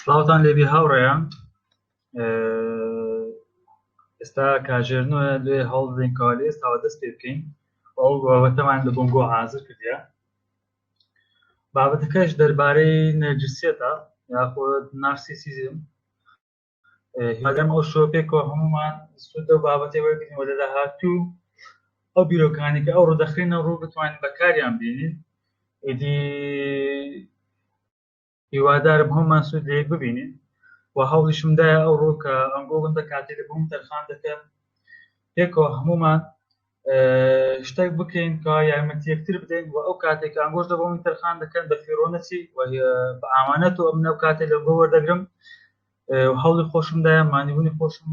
سڵاوتان لێبی هاوڕێیان ئێستا کاژێر نوە لێ هەڵدەین کالی ئێستاوە دەست پێ بکەین ئەو بابەتەمان لە بۆنگۆ حازر کردە بابەتەکەش دەربارەی نەرجسیەتە یاخود نارسیسیزم هیوادارم ئەو شۆ پێکەوە هەمومان سود لەو بابەتێ وەرگین وە لە داهاتوو ئەو بیرۆکانی کە ئەو ڕدەخێنە ڕوو بتوانین بەکاریان بینین ئیدی هیوادارم هەمومان سود لەیەک ببینین و هەوڵیشمدایە ئەو ڕۆکە ئەنگۆڵم دەکاتێ لە بووم تەرخان دەکەم پێکەوە هەمومان شتێک بکەین کە یارمەتی یەکتر بدەین و ئەو کاتێک ئەنگۆش دەبەوەی تەرخان دەکەن بە فیرۆنەچی بە ئامانەت و ئەمنە کاتێک لە بۆ وەردەگرم هەڵی خۆشمدایە مانیبوونی خۆشم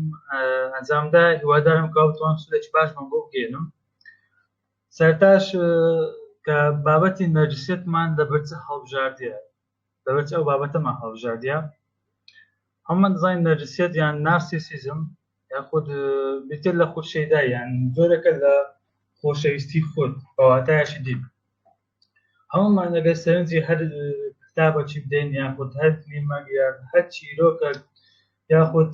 ئەنجامدا هیوادارم کاوتوان سودێکی باش من بۆ بگەێنم سەرتاش کە بابەتی نەرجسێتمان لە بەرچە هەڵبژاردە لەبەرچی ئەو بابەتەمان هەڵبژاردیە هەموومان دەزانین نەرجسیەت یان نارسیسیزم یاخود بریتە لە خود شەیدا یان جۆرەکە لە خۆشەویستی خود بەواتایشی دی هەموومان ئەگەر سەرنجی هەر کتابەکی بدەین یاخود هەر فلیمەک یا هەر چیرۆکە یاخود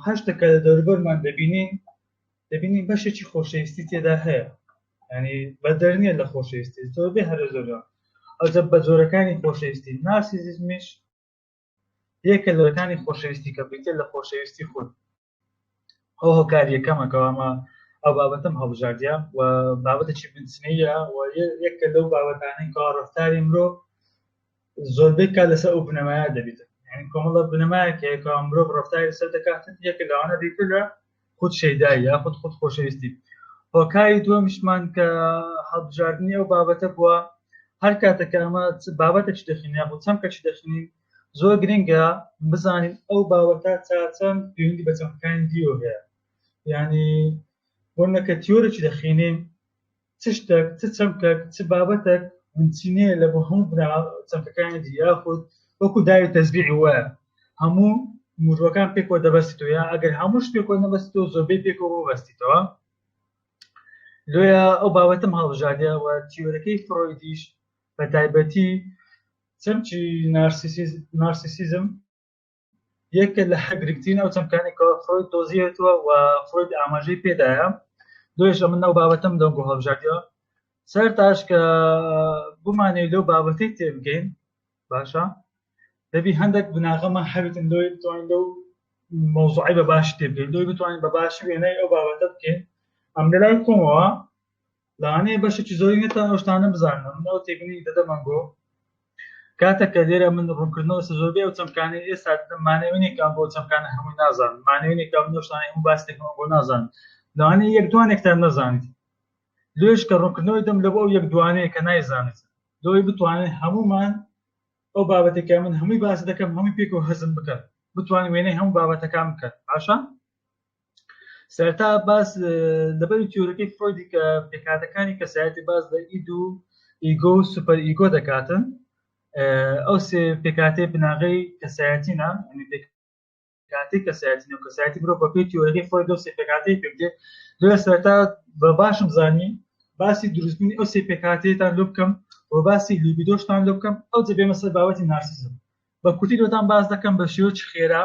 هەر شتەکە لە دەوربەرمان دەبینین دەبینی بەشێکی خۆشەویستی تێدا هەیە ینی بەدەر نیە لە خۆشەویستی زۆر بێ هەرە زۆرە ئەوجە بە جۆرەکانی خۆشەویستی ناسیزیزمیش یەکە لەکانی خۆشەویستی کە بریتە لە خۆشەویستی خود ئەو هۆکاریەکەمەکەوامە ئەو بابەتم هەڵبژاردە و بابەتێکی بنچنەیە و یەکە لەو بابەتانەی کاڕفتاری مرۆ زۆربەی کات لەسەر ئەو بنەمایە دەبیت یعنی کۆمەڵە بنەمایەک هەیە کە مرۆڤ ڕەفتاری لەسەر دەکات یەکە لەوانە دیتر لە خود شەیدایی یا خود خود خۆشەویستی هۆکاری دووەمیشمان کە هەڵبژاردنی ئەو بابەتە بووە هەر کاتێک کە ئەمە بابەتێکی دەخین یا بۆ چەمکەکی دەخینین زۆر گرنگە بزانین ئەو باوەتا چاچەند پێویندی بە چەمکەکانی دیۆ هەیە ینی بۆ نەکە تیۆرەی دەخینین چ شتەک، چ چەمکەک، چ بابەتەک بنچینەیە لە بۆ هەموو بنە چەمکەکانی دی، یاخود وەکو داوی تەزبیعی وایە هەموو موژوەکان پێکەوە دەبەستیتەوە، یا ئەگەر هەمووش پێکەوە نەبەستیتەوە زۆربەی پێکەوە ببەستیتەوە. لۆیە ئەو بابەتم هەڵبژاردە و تیۆرەکەی فرۆیدیش بە تایبەتی چەمکی نارسیسیزم یەکە لە گرنگترین ئەو چەمکانێکەوە فرۆید دۆزیێتەوە و فرۆید ئاماژەی پێدایە دوێژە من ئەو بابەتەم دەم بۆ هەڵبژاردیەوە سەر تاش کە بمانێ لەو بابەتی تێبگەین باشە دەبی هەندێک بناغەمە هەبتن لۆی بتوانین لەو مۆزوعی بە باش تێبگەین لۆی بتوانین بە باش وێنەی ئەو بابەتە بکەین ئەم لەلای کۆمەوە لەوانەیە بەشێکی زۆری نێتا ئەو شتانە بزانم من ئەو تێبینی دەدەمەن بۆ کاتێک کە لێرە من ڕوونکردنەوە سە زۆربەی ئەو چەمکانەی ئێستا دەدەم مانەوەینێکان بۆ چەمکانە هەمووی نازان مانەوەینێکا من ئەو شتانەی هەموو باس دەکەمەوە بۆ نازان لەوانەیە یەک دوانێکتان نەزانیت لێش کە ڕوونکردنەوەی دەم لە بۆ ئەو یەک دوانەیە کە نایزانیت لۆی بتوانێت هەمومان ئەو بابەتێکە من هەمووی باس دەکەم هەمووی پێکەوە هەزم بکەن بتوانین وێنەی هەموو بابەتەکان بکەن باشە سەرتا باس لەبەر تیۆرەکەی فرۆیدی کە پێکاتەکانی کەسایەتی باز لە ئید و ئیگۆ و سوپەر ئیگۆ دەکاتن ئەو سێ پێکاتی بناغەی کەسایەتینە کاتی کەسایەتی و کەسایەتی برۆ بە پێی تیۆرەکەی فرۆید و سێ پێکاتی پێکدێت لە سەرتا بە باشم زانی باسی دروستبوونی ئەو سێ پێکاتێتان لۆ بکەم و باسی لیبیدۆشتان لۆ بکەم ئەو جە بێمە سەر باوەتی نارسیزم بە کوتی لۆتان باز دەکەم بە شێوەی خێرا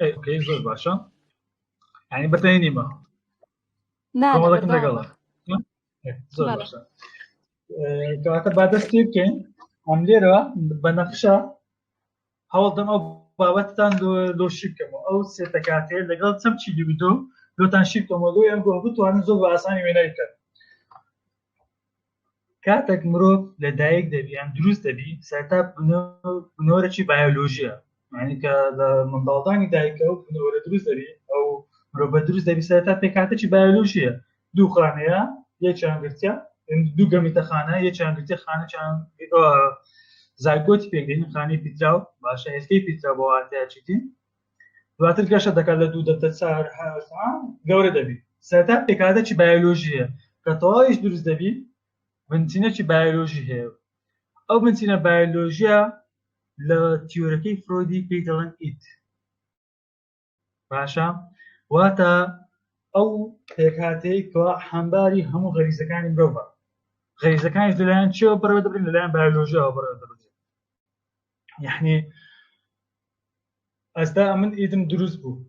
ئۆکەی زۆر باشە یعنی بەتەی نیمە کۆمەڵەکەم لەگەڵە زۆر باشە کەواتە با دەست پێ بکەین ئەم لێرەوە بە نەخشە هەوڵدەم ئەو بابەتتان لۆ شی بکەمەوە ئەو سێتەکاتێ لەگەڵ چەم چی دوبیدۆ لۆتان شی بکەمەوە لۆ ئەم گۆ بتوانن زۆر بە ئاسانی وێنای بکەن کاتەک مرۆڤ لە دایک دەبیان دروست دەبی سەرتا بنۆرەی بایۆلۆژیە معنی کە لە منداڵدانی دایکە و بنۆرە دروست دەبی ئەو مرۆڤە دروست دەبی سەرتا پێکاتەی بایۆلۆژیە دوو خانەیە یەکیان گرتە دوو گەمیتە خانە یەکیان گرتە خانەچان زایگۆتی پێکدێنی خانەی پیتراو باشە هێستەی پیترا بۆ واتەیە چیتین دواتر گەشە دەکات لە دوو دەبدە چار گەورە دەبی سەرتا پێکاتەکی بایۆلۆژیە کە تەواویش دروست دەبی بنچینەکی بایۆلۆژی هەیە ئەو بنچینە بایۆلۆژیە لە تیۆرەکەی فرۆدی پێی دەڵێن ئیت باشە واتە ئەو پێکاتەی کە حەمباری هەموو غەریزەکانی مرۆڤە غەریزەکانی لەلایەن چێوە بڕێ دەبن لەلایەن بایۆلۆژیەوە بڕێ دەبن یعنی ئەستا من ئیدم دروست بوو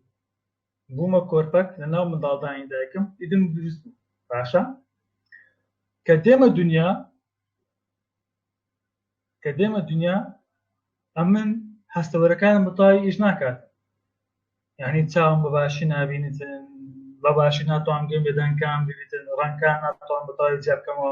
بوومە کۆرپەک لە ناو منداڵدانی دایکم ئیدم دروست بوو باشە کە دێمە دنیا کە دێمە دنیا ئەمن هەستەوەرەکان متای ئیش ناکات یعنی چاوم بە باشی نبینیتن بە باشی ناتوان گوێم بێدەنکان ببیتن ڕەنکان ناتوان بەتاوی جیابکەمەوە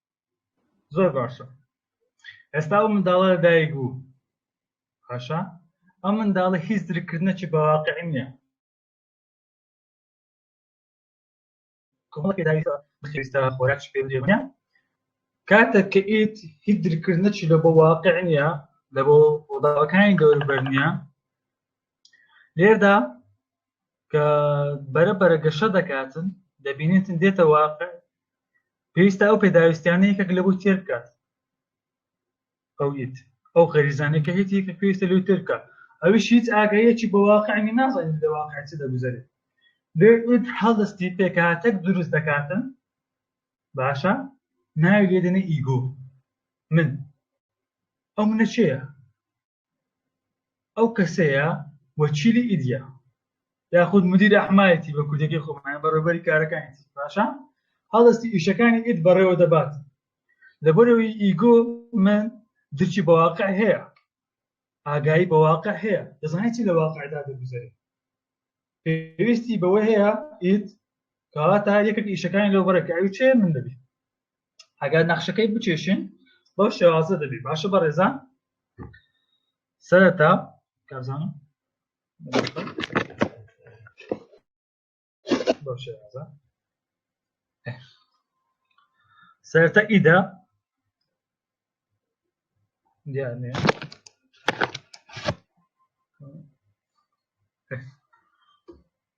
زۆر باشە ئێستا ئەو منداڵە لەدایک بوو باشە ئەم منداڵە هیچ درکردنەکی بەواقعی نییە پێداویستە خۆراک پێ درێبنە کاتێک کە ئیت هیچ درکردنەکی لە بۆ واقع نییە لە بۆ ڕۆداوەکانی گەوربەر نییە لێردا کە بەرە بەرە گەشە دەکاتن دەبینێتن دێتە واقع پێویستە ئەو پێداویستیانە یەکێک لە بۆ تێر بکات ئەویت ئەو خەریزانەکە هیچ یەکە پێویستە لەو تێر بکات ئەویش هیچ ئاگەیەکی بە واقعی نازانین لە واقع چ دەگوزارێت لێت هەڵستی پێکهاتەک دروست دەکاتن باشە ناوی لێدەنە ئیگۆ من ئەو منە چێە ئەو کەسەیە وەکیلی ئیدیا یاخود مدیر ئەحمایەتی بە کوردەکەی خۆمان بەڕێبەری کارەکانی باشە هەڵستی ئیشەکانی ئید بەڕێوە دەبات لەبەرەوەی ئیگۆ من درچی بەواقع هەیە ئاگایی بەواقع هەیە دەزانێت چی لە واقعدا دەگوزارێت پێویستی بەوە هەیە ئید کەواتە یەکێک ئیشەکانی لەو بەرەکەوی چێ من دەبی ئەگەر نەخشەکەی بچێشن بەو شێوازە دەبێت باشە بە ڕێزان سەرەتا کازان بەو شێوازە سەرەتا ئیدا دیار نیە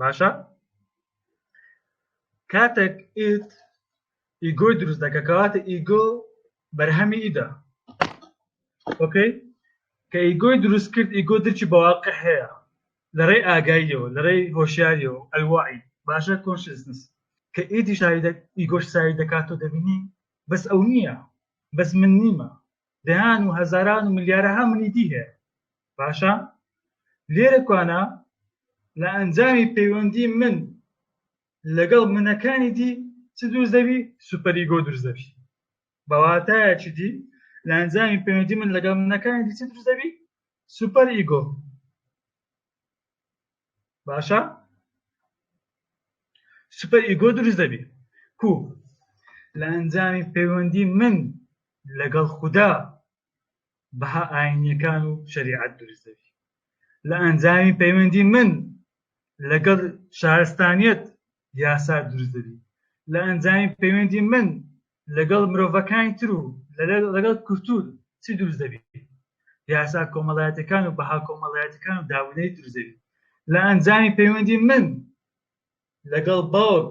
باشە کاتێک ئیت ئیگۆی دروست دەکە کەواتە ئیگۆ بەرهەمی ئیدا ئۆکەی کە ئیگۆی دروست کرد ئیگۆ درچی بەواقع هەیە لەڕێ ئاگاییەوە لەڕێی هۆشیاریەوە ئەلوعی باشە کۆنشنس کە ئیدی شاید ئیگۆش سای دەکات و دەبینی بەس ئەو نییە بەس من نیمە دەیان و هەزاران و ملیارەها منی دی هەیە باشە لێرە کوانە لە ئەنجامی پەیوەندی من لەگەڵ منەکانی دی چ دروست دەبی سوپەریگۆ دروست دەبی بەواتایەکی دی لە ئەنجامی پەیوەندی من لەگەڵ منەکانی دی چ دروست دەبی سوپەر ئیگۆ باشە سوپەر ئیگۆ دروست دەبی کو لە ئەنجامی پەیوەندی من لەگەڵ خوددا بەها ئاینیەکان و شەریعەت دروست دەبی لە ئەنجامی پەیوەندی من لەگەڵ شارستانیت یاسا دروست دەبی لە ئەنجامی پەیوەندی من لەگەڵ مرۆڤەکانی تر و لەگەڵ کورتور چی دروست دەبی یاسا کۆمەڵایەتەکان و بەها کۆمەڵایەتەکان و داونەی دروست دەبی لە ئەنجامی پەیوەندی من لەگەڵ باوک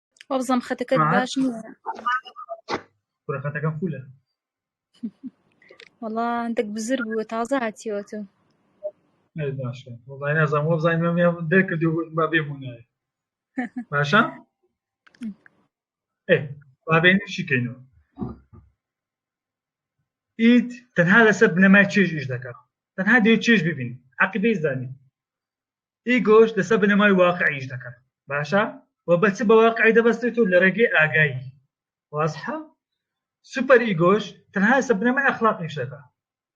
وەبزەم خەتەکە باش خەتەکە خولە وەڵا دەک بزر بووە تازە هاتیەوە تۆ باشە وڵای نازان وەبزانین مەم دەرکردو با بێمونایە باشە بابێن شیکەینەوە ئیت تەنها لەسەر بنەمای چێژ ئیش دەکات تەنها دێ چێژ ببین عقیدەی زانین ئیگۆش لەسەر بنەمای واقعی ئیش دەکەن باشە و بە چ بە واقعی دەبەستێت و لە ڕێگەی ئاگایی وازحە سوپەر ئیگۆش تەنها سە بنەمای ئەخلاقی ئیش دەکە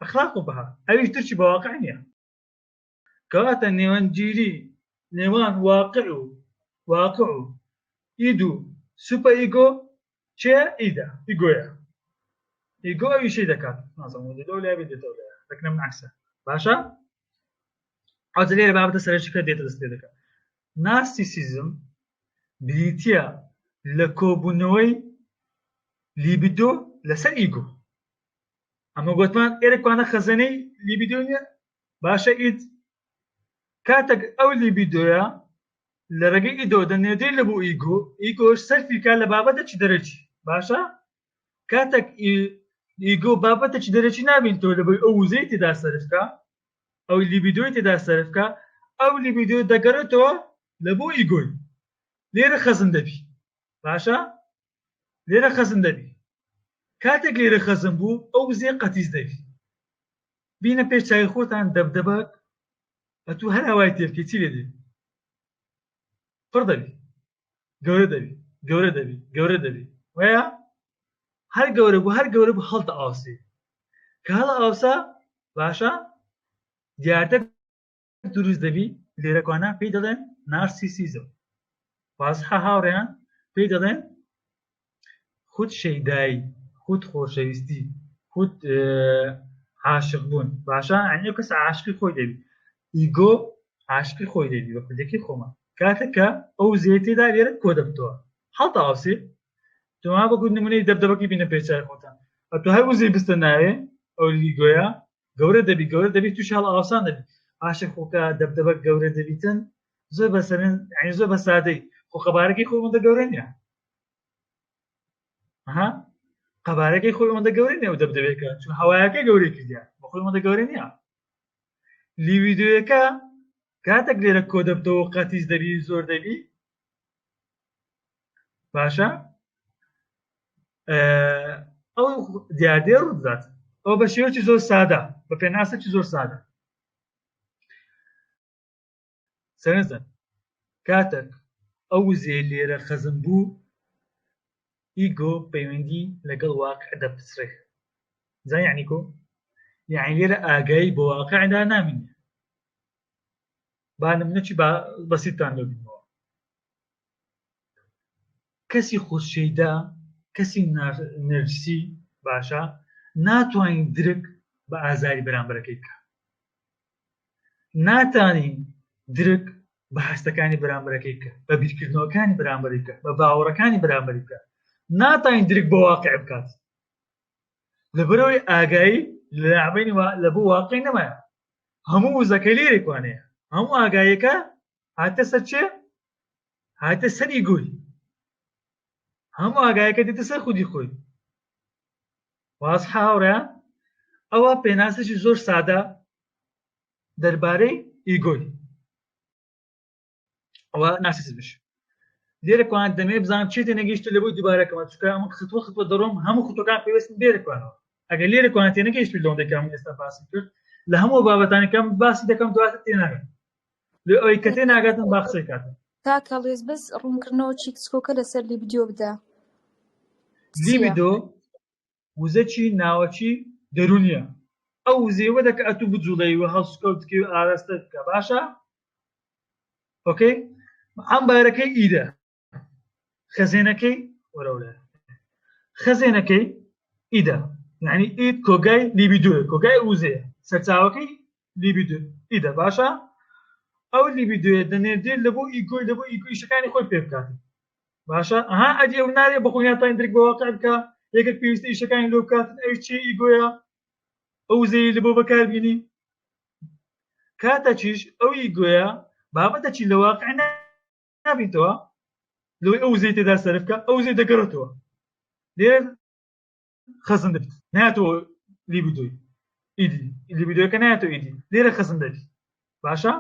ئەخلاق و بەها ئەویش درچی بە واقع نییە کەواتە نێوەندگیری نێوان واقع و واقع و ئید و سوپە ئیگۆ چێ ئیدا ئی گۆیە ئی گۆ ئەویشی دەکات نازەمەوە لەو لای بێت دێتەوە لای دەکنم عکسە باشە ئەوجە لێرە بابەتە سەرەکی کە دێتە دەست پێ دەکات نارسیسیزم بریتە لە کۆبوونەوەی لیبیدۆ لەسەر ئیگۆ ئەمە گوتمان ئێرەکوانە خەزەنەی لیبیدۆ نیە باشە ئیت کاتێک ئەو لیبیدۆە لە ڕێگەی ئیدۆ دە نێدەی لە بۆ ئیگۆ ئیگۆش سەرفی کا لە بابەتە چ دەرەچی باشە کاتێک ئیگۆ بابەتە چ دەرەچی نابین تۆ لە بۆی ئەو وزەی تێدا سەرفکە ئەو لیبیدۆی تێدا سەرفکە ئەو لیبیدۆ دەگەڕێتەوە لە بۆ ئیگۆی لێرە خەزن دەبی باشە لێرە خەزن دەبی کاتێک لێرە خەزم بوو ئەو وزێ قەتیز دەبی بینە پێش چاوی خۆتان دەبدەبەک ئەتوو هەر هەوای تێبکە چی لێ دێ پڕ دەبی گەورە دەبی گەورە دەبی گەورە دەبی وەیە هەر گەورە بوو هەر گەورە بوو هەڵتە ئاوسێ کە هەڵ ئاوسا باشە دیارتر دروست دەبی لێرەکوانە پێی دەڵێن نارسیسیزم وازحە هاوڕێیان پێی دەڵێن خود شەیدایی خود خۆشەویستی خود عاشق بوون باشە ئەنێ کەس عاشقی خۆی دەبی ئیگۆ عاشقی خۆی دەبی بە کوردەکەی خۆمان کاتەکە ئەو زێتێدا لێرە کۆ دەبتەوە حڵتا ئاوسێ تۆما بەکو نمونەی دەبدەبەکی بینە پێچای خۆتان ئەتو هەر وزەی بستە ناوێ ئەو لیگۆیە گەورە دەبی گەورە دەبی تووشی هەڵ ئاوسان دەبی ئاشە خۆکە دەبدەبە گەورە دەبیتن زۆر بەسەرن ئەین زۆر بە سادەی خۆ قەبارەکەی خۆی ئەوەندە گەورە نیە ها قەبارەکەی خۆی ئەوەندە گەورە نیە و دەبدەبێکە چون هەوایەکەی گەورەی کردیا بە خۆی ئەوەندە گەورە نیە لیویددیوەکە کاتێک لێرە کۆ دەبتەوە قەتیس دەبی زۆر دەبی باشە ئەو دیاردێ ڕوودات ئەو بە شێوەی زۆر سادە بە پێناسەی زۆر سادە سەرزن کاتێک ئەو وزێ لێرە خەزم بوو ئیگۆ پەیوەندی لەگەڵ واقع دەپسرێ زایانی کۆ یعنی لێرە ئاگایی بۆ واقعدا نامینێ بانم نەچی بەسیتان لەبینەوە کەسی خودشەیدا کەسی نەرجسی باشە ناتوانین درک بە ئازاری بەرامبەرەکەی بکە ناتانین درک بە هەستەکانی بەرامبەرەکەی بکە بە بیرکردنەوەکانی بەرامبەری بکە بە باوەڕەکانی بەرامبەری بکە ناتانین درک بە واقع بکات لەبەرەوەی ئاگایی لەعبین لە بۆ واقعی نەمایە هەموو وزەکە لێرێکوانەیە هەموو ئاگایەکە هاتە سەر چێ هاتە سەری گوی هەموو ئاگایەکە دێتە سەر خودی خۆی واز هاوڕە ئەوە پێناسێکی زۆر سادە دەربارەی ئیگۆی ئەوە ناسیزمش لێرە کوان دەمێ بزانام چێتە نەگەیشت لە بۆی دوبارەکەمە چکە ئەمە خطوە خطوە دەڕۆم هەموو خطەکان پێوەستن لێرەکوانەوە ئەگەر لێرە کوانتێ نەگەیشت لەوەندەکەم ئێستا باسی کرد لە هەموو بابەتانەکەم باسی دەکەم دواتر تێناگەن لێ ئەوەی کە تێ ناگاتم با قسەی کاتم کاکە ڵێز بەس ڕوونکردنەوە چی کچکۆکە لەسەر لی بدیۆ بدە لیبیدۆ وزەکی ناوەکی دەرونیە ئەو وزەیوە دەکە ئەتوو بجوڵەی و هەڵسکەوتکی و ئاراستە بکە باشە ئۆکەی ئەم بارەکەی ئیدە خەزێنەکەی وەرەولە خەزێنەکەی ئیدا یعنی ئید کۆگای لیبی دوێ کۆگای وزێ سەرچاوەکەی لیبی دو ئیدا باشە ئەو لیبی دوێ دەنێردێت لە بۆ ئیگۆی لە بۆ ئیگویشەکانی خۆی پێ بکات باشە ئەها ئەدی ئەو نارێ بەخۆیاتان درک بە واقع بکە یەکێک پێویستە ئیشەکانی لۆ بکات ئەوی چی ئیگۆیە ئەو زەیە لە بۆ بەکاربیینی کاتەچیش ئەوی گوێە بابەتە چی لە واقع نابیتەوە لەوەی ئەو زەی تێدا سەرفکە ئەو زەی دەگەڕێتەوە لێ خەزن دەبیت ناتەوە لیبدوی ئیدی لیبدوەکە ناتەوە ئیدی لێرە خەزن دەبی باشە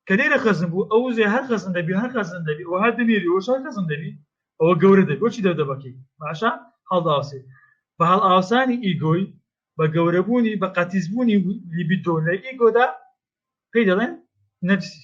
کە لێرە خەزن بوو ئەو زێ هەر خەزن دەبی هەر خەزن دەبی و هەر دەمێری وە شار خەزن دەبی ئەوە گەورە دەبی بۆچی دەردەبەکەی باشە هەڵداوسێ بە هەڵ ئاوسانی ئیگۆی بە گەورەبوونی بە قەتیزبوونی لیبیدۆ لە ئیگۆدا پێی دەڵێن نەفسی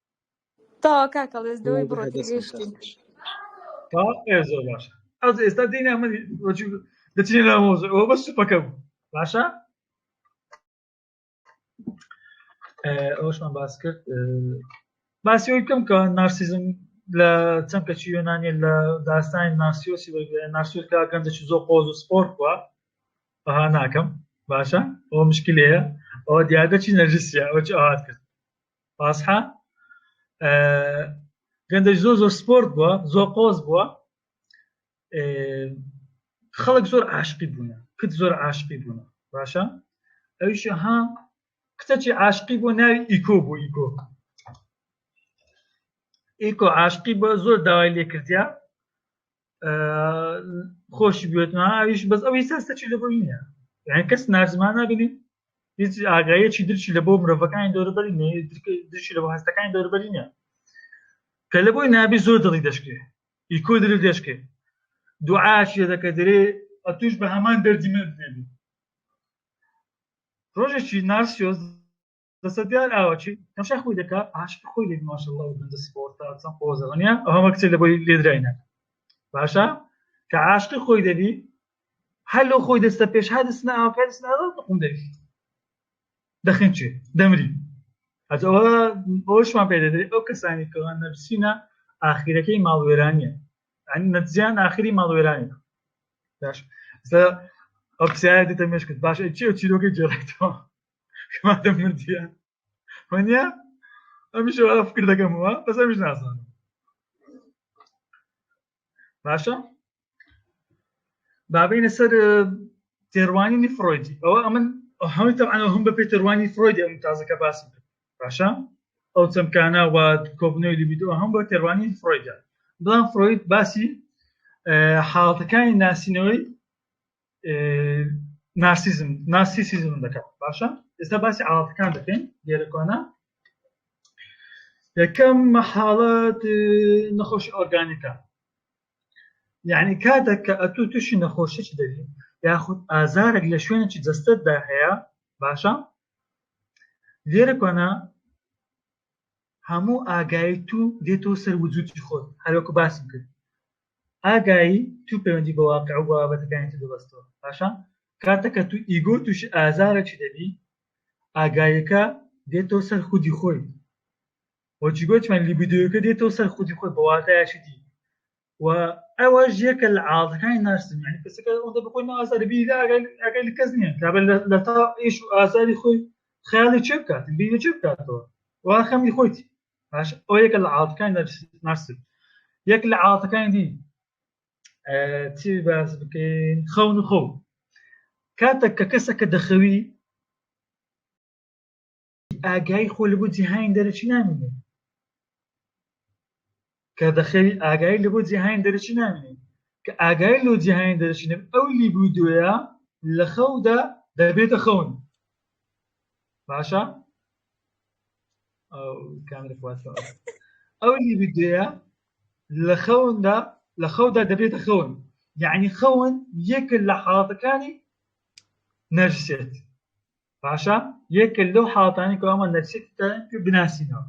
تەوا کاکە ڵێز لەوەی بڕۆ تێگەیشتین تا ئێ زۆر باش ئەز ئێستا دێنە من وەجو دەچینە لە مۆزە ئەوە بەس سوپەکە بوو باشە ئەوشمان باس کرد باسی ئەوی بکەم کە نارسیزم لە چەمکەچی یۆنانیە لە داستانی ناسیۆسی ناسیۆس کا گەنجە چ زۆ قۆز و سپۆر کووە بەها ناکەم باشە ئەوە مشکلەیە ئەوە دیادە چی نەرجسیە ئەوە چ ئاات کرد باسحە گەندەش زۆر زۆر سپۆرت بووە زۆر قۆز بووە خەڵک زۆر عاشقی بوونە کت زۆر عاشقی بوونە باشە ئەویش ها کتەچی عاشقی بۆ ناوی ئیکۆ بۆ ئیکۆ ئیکۆ عاشقی بۆ زۆر داوای لێکردیا خۆش بێتمە ئەویش بەس ئەوی سەرسەچی لە بۆ نیە یان کەس نازمان نابێنین هیچ ئاگایەکی درچی لە بۆ مرۆڤەکانی دەوربەری درچی لە بۆ هەستەکانی دەوربەری نیە کە لە بۆی نابی زۆر دڵی دەشکێ ئیکۆ دل دەشکێ دوعاشێ دەکە دەرێ ئەتوش بە هەمان دەردی من بێبی ڕۆژێکی ناسیۆز دەسەدیار ئاوەچی تەشا خۆی دەکا عاشق خۆی لێ ماشەڵڵا و بەندە سپۆرتا چەند قۆزە دنیا ئەو هەمە کچێک لە بۆی لێدراینە باشە کە عاشقی خۆی دەبی هەر لەو خۆی دەستە پێش ها دەستنا ئاوکە دەستنا قوم دەبی دەخین چێ دەمری ئەجەوە بۆشمان پێ دەدرێت ئەو کەسانی کەوان نەرسینە ئاخیرەکەی ماڵوێرانیە نەجیان ئاخری ماڵوێرانی باش ئەو پرسیارە دێتە مێشکت باش چی و چیرۆکەی جێڕێتەوە کەمادە مردیە وەنیا ئەمیشە وەڵا فکر دەکەمەوە بەس ئەمیش نازانم باشە بابینە سەر تێڕوانینی فرۆیدی ئەوە ئەمن هەمووی تەعاەوە هەم بە پێ تێڕوانی فرۆیدی ئەم تازەکە باسی باشە ئەو چەمکانە و کۆبنەوەی لیبیدۆ هەم بە تێڕوانی فرۆیدە بڵام فرۆید باسی حاڵتەکانی ناسینەوەی نارسیزم نارسیسیزم دەکات باشە ئێستا باسی عاڵەتەکان دەکەین لێرەکانە یەکەم مەحاڵەت نەخۆش ئۆرگانیکە یعنی کاتێک کە ئەتو تووشی نەخۆشیی دەبی یاخود ئازارێک لە شوێنێکی جەستتدا هەیە باشە لێرە کۆنا هەموو ئاگایی تو دێتەوە سەر وجودی خۆت هەروەکو باسم کرد ئاگایی تو پەیوەندی بە واقیع و بابەتەکانی تر ببەستەوە پاشان کاتە کە تو ئیگۆ توشی ئازارەکی دەبی ئاگایەکە دێتەوە سەر خودی خۆی و جگۆچمان لیبیدۆیەکە دێتەوە سەر خودی خۆی بە واتایەکی دی و ئەوەش یەکە لە عاڵەکانی نارسم یعنی کەسەکە ئەوەندە بە خۆی نازاری بی لە ئاگای لە کەس نییە کابل لە تا ئیش و ئازاری خۆی خیاڵی چێ بکات بینە چێ بکاتەوە وا خەمی خۆیتی باش ئەو یەکە لە عادەکانی ناسب یەک لە عادەکانی دی چی باس بکەین خەون و خەو کاتێک کە کەسە کە دەخەوی ئاگای خۆ لە بۆ جیهانی دەرەچی نامێنێت کە دەخەوی ئاگایی لە بۆ جیهانی دەرەکی نامێنێ کە ئاگایی لۆ جیهانی دەرەکی نەبێ ئەو لیبیدۆیە لە خەودا دەبێتە خەون باشە ئەو کامرە خواسەوە ئەو لیبیدۆیە لە خەوندا لە خەودا دەبێتە خەون یعنی خەون یەکە لە حاڵەتەکانی نەرسێت باشە یەکە لەو حاڵەتانی کە ئەمە نەرسێت بناسینەوە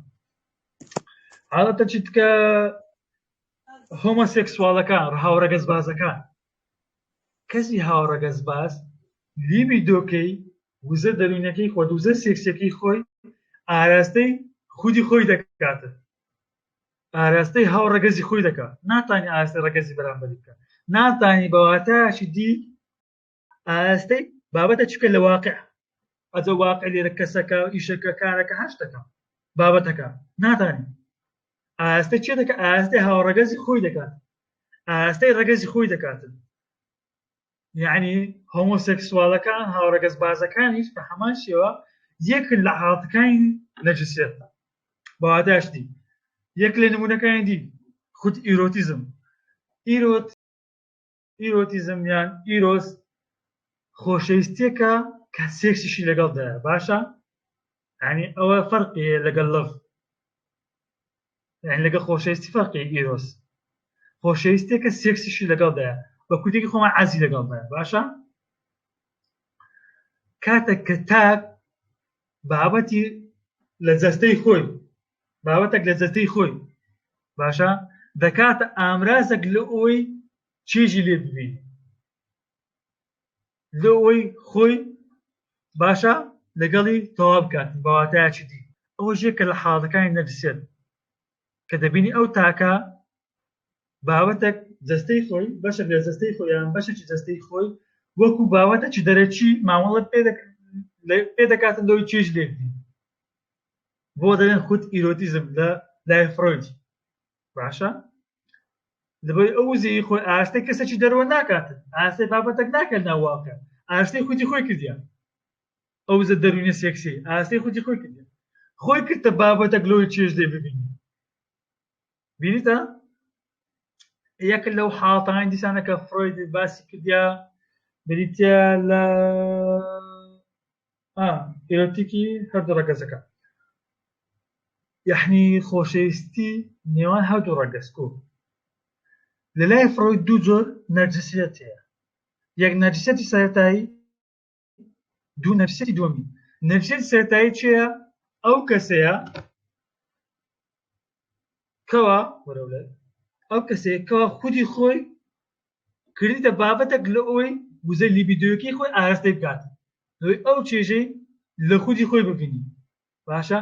حاڵەتە چیتکە هۆمۆسێکسوالەکان هاوڕەگەز بازەکان کەسی هاوڕەگەز باز لیبی دۆکەی وزە دەروونەکەی خۆت وزە سێکسەکەی خۆی ئاراستەی خودی خۆی دەکاتە ئاراستەی هاو ڕەگەزی خۆی دەکات ناتانی ئاستی ڕەگەزی بەرامبەری بکە ناتانی بەواتاشی دی ئاستەی بابەتە چکە لە واقع ئەجە واقع لێرە کەسەکە و ئیشەکە کارەکە هەشتەکە بابەتەکە ناتانی ئاستە چێ دەکە ئاستەی هاوڕەگەزی خۆی دەکات ئاستەی ڕەگەزی خۆی دەکاتن یعنی هۆمۆسێکسوالەکان هاوڕەگەز بازەکانیش بە هەمان شێوە یەک لە حاڵتەکانی نەجسێت بەواداشتی یەک لە نمونونەکانی دی خود ئیرۆتیزم ئیرۆت ئیرۆتیزم یان ئیرۆس خۆشەویستیەکە کە سێکسیشی لەگەڵدایە باشە ینی ئەوە فەرقی لەگەڵ لەف یان لەگە خۆشەویستی فەرقی ئیرۆس خۆشەویستێکە سێکسیشی لەگەڵدایە بە کوردێکی خۆمان عزی لەگەڵدایە باشە کاتە کە تاک بابەتی لە جەستەی خۆی بابەتێک لە جەستەی خۆی باشە دەکاتە ئامرازێک لە ئەوی چێژی لێ ببین لە ئەوی خۆی باشە لەگەڵی تەوا بکات بەواتایکی دی ئەوە ژێ کە لە حاڵەکانی نەفسێت کە دەبینی ئەو تاکە باوەتێک جستەی خۆی بەشە لە جستەی خۆیان بەشێکی جستەی خۆی وەکو باوەتەکی دەرەکی مامەڵە پێ دەکات پێ دەکاتن لەوەی چێژ لێبی بۆ دەێن خود ئیرۆتیزم لە لای فرۆیدی باشە لەبەی ئەو وزەی خۆی ئاستە کەسەی دەرەوە ناکات ئاستەی بابەتەک ناکەن ناواکە ئاستەی خودی خۆی کردیان ئەو زە دەروونە سێکسی ئاستەی خودی خۆی کردیان خۆی کردتە بابەتەک لۆی چێژ دێ ببینی بینیتە یەک لەو حاڵتانی دیسانەکە فرۆید باسی کردیا بریتە لە ئا ئیرۆتیکی هەردوو ڕەگەزەکە یەحنی خۆشەویستی نێوان هەردوو ڕەگەز کو لە لای فڕۆی دوو جۆر نەرجسیەت هەیە یەک نەرجسەتی سەرەتایی دوو نەرسەتی دووەمی نەرسەتی سەرەتایی چیە ئەو کەسەیە کەوا وەرەولای ئەو کەسێکەوە خودی خۆی کردیتە بابەتەک لە ئەوەی وزەی لیبیدۆیەکەی خۆی ئاراستەی بکات لەوەی ئەو چێژەی لە خودی خۆی ببینی باشە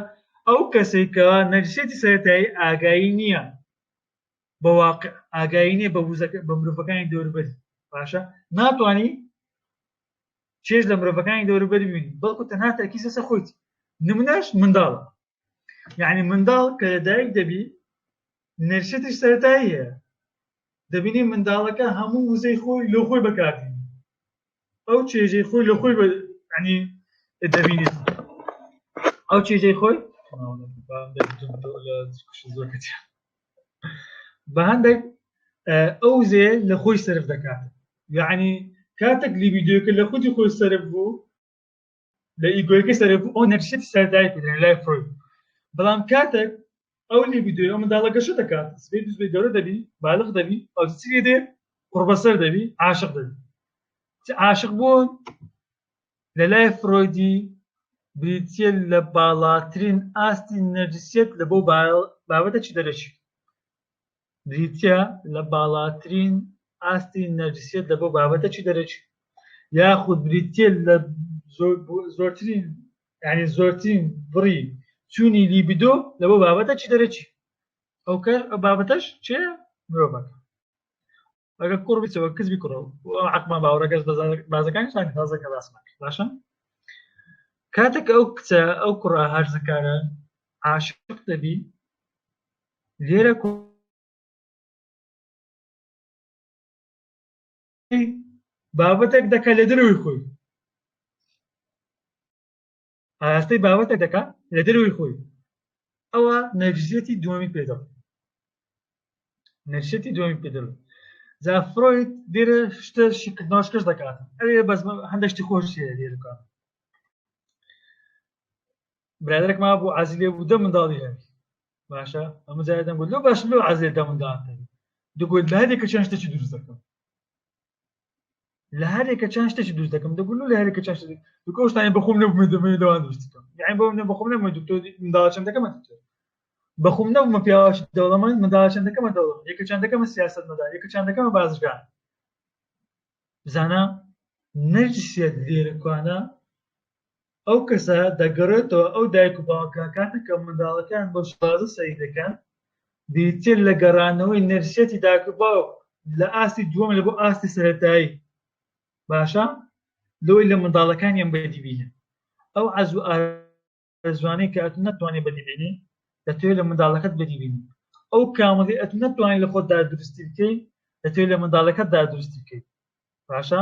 ئەو کەسێک کە نەرسێتی سەرەتایی ئاگایی نییە بە واقع ئاگایی نییە بە وزەکە بە مرۆڤەکانی دەوروبەری باشە ناتوانانی چێژ لە مرۆڤەکانی دەوروبەری ببینی بەڵکو تەنها تەرکیز لەسەر خۆیت نمونەش منداڵە یعنی منداڵ کە لەدایک دەبی نەرشتی سەرتایی هەیە دەبینی منداڵەکە هەموو وزەی خۆی لۆ خۆی بەکاتی ئەو چێژەی خۆی لە خۆی ینی دەبینی ئەو چێژەی خۆی بە هەندێک ئەو زێ لە خۆی سرف دەکات یعنی کاتێک لیبیدۆکە لە خودی خۆی سرف بوو لە ئیگۆیەکە سەرەک و ئۆنەرشیت سەردای پێدرێن لای فرۆید بەڵام کاتێک ئەو لیبیدۆی ئەو منداڵە گەشە دەکات سبێ دوزبێ گەورە دەبی بالغ دەبی ئەو چی دێ قڕبەسەر دەبی عاشق دەبی عاشق بوون لە لای فرۆیدی بریتە لە باڵاترین ئاستی نەرجسیت لە بۆ بابەتە چی دەرەچی بریتیە لە باڵاترین ئاستی نەرجسیەت لە بۆ بابەتەکی دەرەکی یاخود بریتیە لە زۆرترین یعنی زۆرترین بڕی چوونی لیبیدۆ لە بۆ بابەتەکی دەرەکی ئەو کەر بابەتەش چێ مرۆڤەکە ئەگە کوڕ بچەوە کزبی کوڕە عقمان باوەڕەکەس بازەکانی شان تازەکە باسمان باشە کاتێک ئەو کچە ئەو کوڕە هەرزەکارە عاشق دەبی لێرە بابەتێک دەکە لە دروی خۆی ئاراستەی بابەتە دەکا لە دەروی خۆی ئەوە نەرجسیەتی دووەمی پێدا نەرشێتی دووەمی پێدا جا فرۆید دێرە شتە شیکردناشکەش دەکات ئەوێ بەس هەندێکشتی خۆش لێرکە برادێک ما بۆ عزی لێ بوو دە منداڵی هەوی باشە ئەمە جای دەم لۆ باش لۆ عزێ دە منداڵ دوگوت لە هەدێکە چەند شتێکی دروست دەکەم لە هەرێکە چند شتێکی دوست دەکەم دەگوون لە هەرێکە چند شتێک دوکە شتانی بەخۆم نەبوومە دەمێ دەوان دوست دەکەم یعنی بۆم نە بەخۆم نەمە دکتۆر منداڵ چند دەکەمە دکتۆر بەخۆم نەبوومە پیاوەش دەوڵەمەند منداڵ چند دەکەمە دەوڵەم یەکە چند دەکەمە سیاست مەدار یەکە چند دەکەمە بازرگان زانا نەرجسیەت لێرەکوانە ئەو کەسە دەگەڕێتەوە ئەو دایک و باوکە کاتێک کە منداڵەکەیان بۆ شازە سەیر دەکەن دیتر لە گەڕانەوەی نەرسیەتی دایک و باوک لە ئاستی دووەم لە بۆ ئاستی سەرەتایی باشە لەوەی لە منداڵەکانیان بەدی بینن ئەو عەز و ئارزوانەی کە ئەتو نەتوانێت بەدی بینی دەتوێت لە منداڵەکەت بەدی بینی ئەو کامڵی ئەتو نەتوانانی لە خۆتدا دروستی بکەیت دەتوێت لە منداڵەکەتدا دروستی بکەیت باشە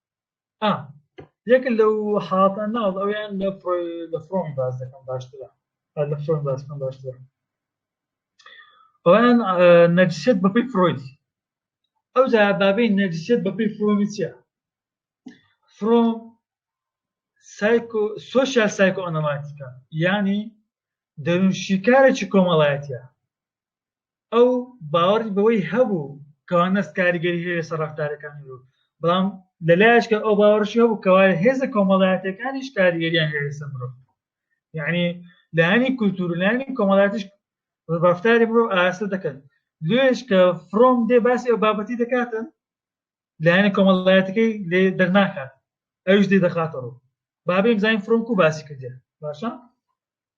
ئا یەکە لەو حاڵەتە ناڵ ئەویان لە لە فڕۆن باز دەکەم باشترە لە فڕۆن باسکەم باشترە ئەویان نەجسێت بەپی فرۆیدی ئەو جا بابی نەجسێت بەپی فرۆمی چیە فرۆم سایکۆ سوۆسیال سایکۆ ئەنەماتیکە ینی دەروون شیکارێکی کۆمەڵایەتە ئەو باوەڕی بەوەی هەبوو کەوا نەست کاریگەری هەیە لەسەر ڕەفتارەکانی مرۆڤ بەڵام لەلایەشکە ئەو باوەڕشی هەبوو کەوا هێزە کۆمەڵایەتەکانیش کاریگەریان هەیە لەسەر مرۆڤ یعنی لایانی کولتور و لایانی کۆمەڵاتیش ڕفتاری مرۆڤ ئاراستە دەکەن لێش کە فرۆم دێ باسی ئەو بابەتی دەکاتن لایەنە کۆمەڵایەتەکەی لێ دەرناکات ئەوش دێ دەخاتەڕوو بابێ بزانین فرۆم و باسی کردێ باشە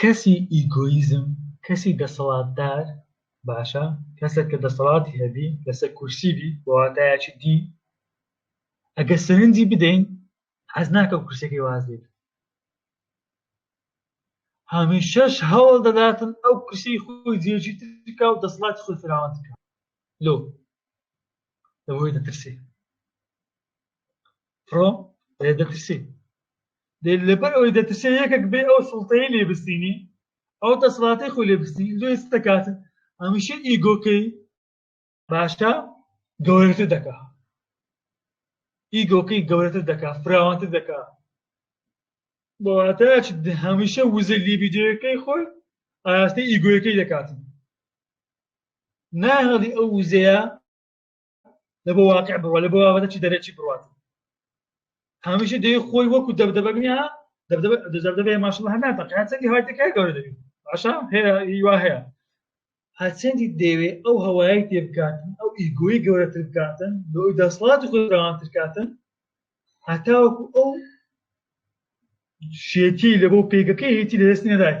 کەسی ئیگۆیزم کەسی دەسەڵاتدار باشە کەسێک کە دەسەڵاتی هەبی لەسەر کورسی بی بەواتایەکی دی ئەگە سەرنجی بدەین حەز ناکە و کورسەکەی وازێت هەمیشەش هەوڵ دەداتن ئەو کورسی خۆی جێژی ترکا و دەسەڵاتی خۆی فراوان تکا لۆ لەوەی دەترسێ فڕۆ دەترسی لەبەر ئەوەی دەترسێ یەکێک بێ ئەو سڵتەی لێ بستینی ئەو دەسڵاتی خۆ لێ بستی لێ دەکات هەمیشە ئیگۆکەی باشە گەورەتر دەکات ئیگۆکەی گەورەتر دەکات فراوانتر دەکات بۆواتەچ هەمیشە وزە لیبیدۆەکەی خۆی ئاراستەی ئیگۆەکەی دەکاتن ناهڵی ئەو وزەیە لە بۆ واقع بڕوە لە بۆ بابەتەی دەرەکی بڕات هەمیشە دەی خۆی وەکو دەبدەبەگنیا دەبدەبێ ماشڵ هەر ناتەقیاتەنگی هەر دەکای گەورە دەبی باشە هەیەوا هەیە هەچەندی دەوێ ئەو هەوای تێ بکاتن ئەو ئیگۆی گەورەتر بکاتن لۆ دەسڵات خۆراوانتر کاتن هەتاوەکو ئەو شێتی لە بۆ پێگەکەی هیچی لەدەست نەدات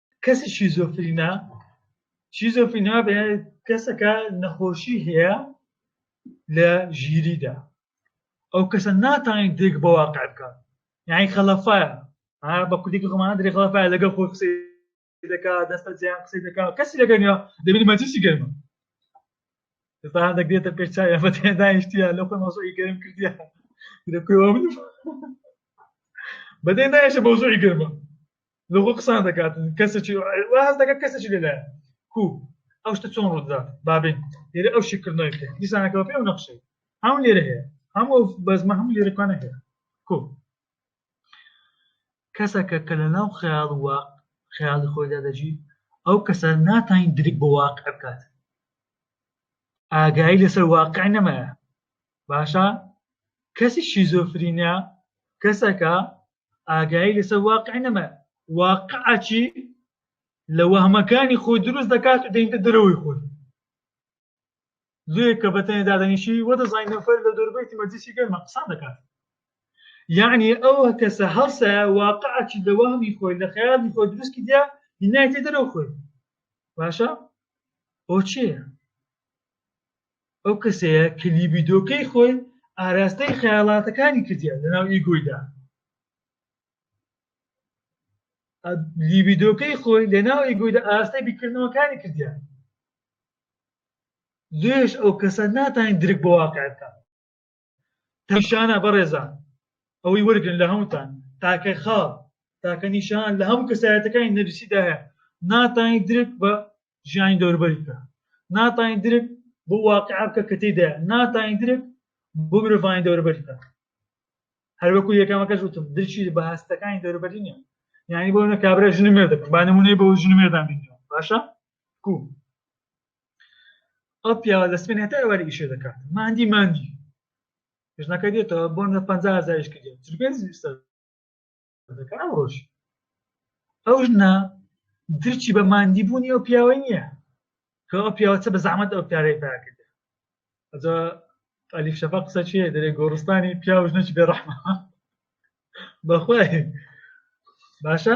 کەسی شیزۆفرینا شیزۆفرینا بە کەسەکە نەخۆشی هەیە لە ژیریدا ئەو کەسە ناتوانین دێک بە واقع بکات یعنی خەڵەفایە بە کوردێکی خۆمانە درێ خڵەفایە لەگەڵ خۆی قسەی دەکا دەستە جیان قسەی دەکا کەسی لەگەنیا دەبین مەجلسی گەرمە ئێستا دەگرێتە پێش چاوی ئەمە دانیشتیە لە خۆی مەسۆی گەرم کردیە بەدەی نایشە بەوزۆی گەرمە لەخۆ قسان دەکات کەسێکی واز دەکات کەسێکی لەلایە کو ئەو شتە چۆن ڕوودات بابین لێرە ئەو شیکردنەوەی بکە دیسانەکەەوە پێ و نەخشەی هەم لێرە هەیە هەم ئەو بەزمە هەم لێرەکانە هەیە کو کەسەکە کە لە ناو خیاڵ وە خیاڵی خۆیدا دەژی ئەو کەسە ناتین درک بۆ واقع بکات ئاگایی لەسەر واقع نەمایە باشە کەسی شیزۆفرینە کەسەکە ئاگایی لەسەر واقع نەما واقعچی لە وەهمەکانی خۆی دروست دەکات و دەینتە دەرەوەی خۆی زۆر کە بەتەنێ دادەنیشی وە دەزانین نەفەر لە دەربەیتی مەجلیسی گەرمە قسان دەکات یعنی ئەو کەسە هەڵسە واقعچی لە وەهمی خۆی لە خەیاڵی خۆی دروستی دیا هینایتێ دەرەوە خۆی باشە بۆ چێە ئەو کەسەیە کە لیبیدۆکەی خۆی ئاراستەی خەیاڵاتەکانی کردیان لەناو ئیگۆیدا لیبیدۆکەی خۆی لەناو ئیگۆیدا ئاراستەی بیکردنەوەکانی کردیان زۆرش ئەو کەسە ناتوانین درک بە واقع بکات نیشانە بەڕێزان ئەوەی وەرگن لە هەمووتان تاکە خاڵ تاکە نیشان لە هەموو کەسایەتەکانی نەرسیدا هەیە ناتانی درک بە ژیانی دەوربەریکە ناتانی درک بۆ واقع بکە کە تێدا ناتانی درک بۆ مرۆڤانی دەوربەریکە هەروەکو یەکەمەکەش وتم درچی بە هەستەکانی دەوربەری نیە یعنی بۆ نە کابرا ژن مێردەکەم با نمونەی بۆ ژن مێردان بینەوە باشە کو ئەو پیاوە لە سپێن هەتا ئێوارێکی شێ دەکات ماندی ماندی پێشناکە دێتەوە بۆ نە پ هزاریش کرد دەکە ئەو ڕۆژ ئەو ژنە درچی بە ماندی بوونی ئەو پیاوە نییە کە ئەو پیاوەچە بە زەحمەت ئەو پیارەی پیا کرد ئەجا ئەلیف شەفا قسە چێ دەرێ گۆڕستانی پیاوژنەی بێڕەحمە بەخوای باشە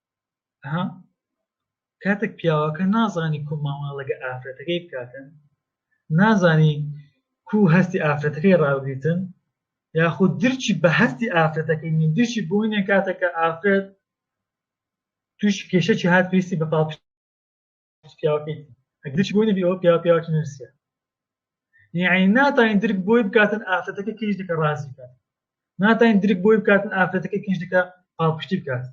ها کاتێک پیاوەکە نازانی کو مامەڵەگە ئافرەتەکەی بکاتن نازانی کو هەستی ئافرەتەکەی ڕاوگیتن یاخود درچی بە هەستی ئافرەتەکەی نی درچی بۆینێ کاتەکە ئافرەت توش کێشەی هات پێستی بە پاڵ پیاوەکەیتی ئەگرچ بۆی نەبی ئەوە پیا پیاوکی نرسە یعنی ناتوانین درک بۆی بکاتن ئافرەتەکە کیش دەکە ڕازی بکات ناتوانین درک بۆی بکاتن ئافرەتەکە کیش دەکە پاڵپشتی بکات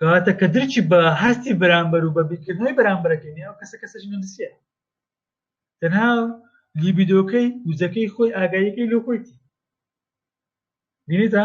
کاتە کە درچی بە هەستی بەرامبەر و بە بیرکردنەوەی بەرامبەرەکەی نیە کەسە کەسەش نرسە تەنها لیبیدۆکەی وزەکەی خۆی ئاگاییەکەی لۆ خۆیتی بینیتە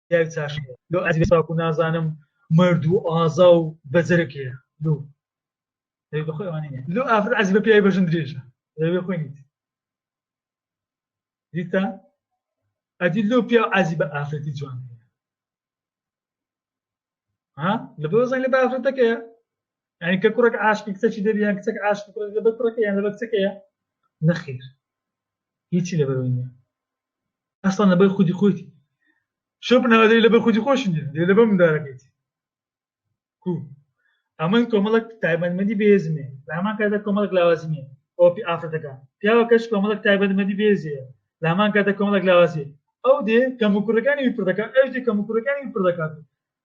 پیاوی چاش لۆ ئەزی ساکو نازانم مرد و ئازا و بەجرک هەیە لۆ لۆ ئافر ئەزی بە پیاوی بەژن درێژە دەبێ خۆی نیت دیتا ئەدی لۆ پیا ئازی بە ئافرەتی جوان هەیە ها لە بۆ زەنگە دافرەتەکەیە یعنی کە کوڕێک عاشقی کچەکی دەبیان کچەک عاشق کوڕێک دەبێت کوڕەکە یان لەبەر کچەکەیە نەخیر هیچی لەبەرەوەی نیە ئەسڵان لەبەر خودی خۆیتی شۆ بناوەدەی لەبەر خودی خۆش نیە دێ لەبەر مندارەکەیتی کو ئەمەی کۆمەڵک تایبەتمەدی بێزمێ لە هەمان کاتدا کۆمەڵک لاوازمێ ئۆپی ئافرەتەکە پیاوەکەش کۆمەڵک تایبەتمەدی بێزەیە لامان کاتە کۆمەڵک لاوازی ئەو دێ کەم و کوڕەکانی وی پردەکە ئەش دێ کەم و کوڕەکانی وی پردەکات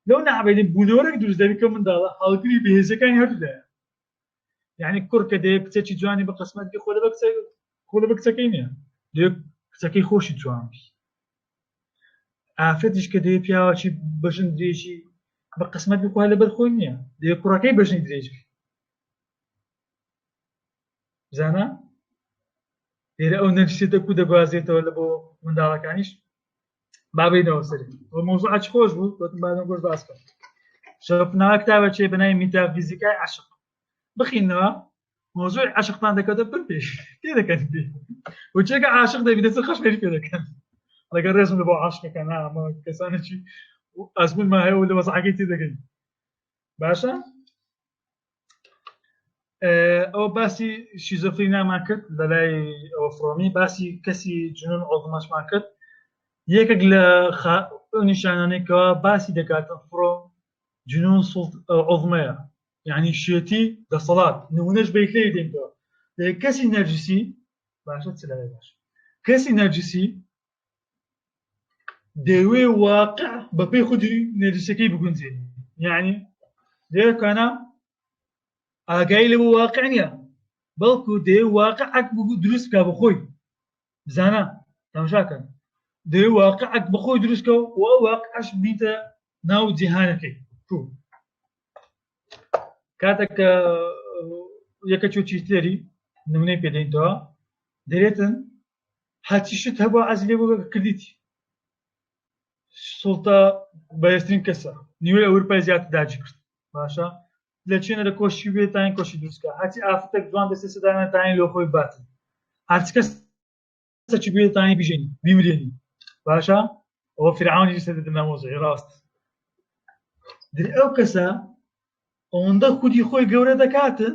لەو نەعبێدی بوونەوەرەك دروست دەبی کە منداڵە هەڵگری بەهێزەکانی هەردوودایە یعنی کوڕ کە دێ کچێکی جوانی بە قسمەتکی خۆ لە بە کچە خۆ لە بە کچەکەی نییە دێ کچەکەی خۆشی جوان بی ئافرەتیش کە دێ پیاوەکی بەژن درێژی بە قسمەت بخوا لە بەرخۆی نییە دێ کوڕەکەی بەژنی درێژ بی بزانە لێرە ئەو نەرسێتە کو دەگوازێتەوە لە بۆ منداڵەکانیش بابینەوە سەر بۆ مۆزوع ئەچ خۆش بوو گوتم بادەم گۆش باس بکەم شەپنا کتابە چێ بەنای میتافیزیکای عشق بخینەوە مۆزوع عشقتان دەکەوتە پر پێش تێ دەکەن وچێکە عاشق دەبینە سەر خەش پێ دەکەن ڕێگە ڕێزم لە بۆ عاشقەکە نامە کەسانێکی ئەزمون ما هەیە و لە وەزعەکەی تێ دەگەین باشە ئەو باسی شیزۆفری نامان کرد لەلای ئەوە فڕۆمی باسی کەسی جنون ئۆزمەشمان کرد یەکێک لە نیشانانێکەوە باسی دەکاتن فڕۆ جنون ئۆزمەیە یعنی شێتی دەسەڵات نمونەش بیت لێ دێنەوە کەسی نەرجسی باشە چ باش کەسی نەرجسی دەیەوێ واقع بەپێی خودی نەریسەکەی بگونجێنی یعنی دەیەکانە ئاگای لە بۆ واقع نییە بەڵکو دێ واقع ئەک بگو دروست بکە بخۆی بزانە تەماشاکەن دێ واقع ئەک بخۆی دروستکە و واقعش بیتە ناو جیهانەکەی تو کاتێک کە یەکە چۆ چیتێری نمونەی پێدەینەوە دەێتن هەرچی شت هەبوو عەز لێ بوو کردیتی سوڵتە بەهێزترین کەسە نیوەی ئەوروپای زیات داجی کرد باشە لە چێنەرە کۆشی بێت تاین کۆشی دروستکە هەچی ئافتێک جوان دەستی سەدانە تاین لۆ خۆی باتن هەرچ کەس سەچی بێت تاین بژێنی بیمرێنی باشە ئەوە فرعونی سەر نامۆزی ڕاست ئەو کەسە ئەوەندە خودی خۆی گەورە دەکاتن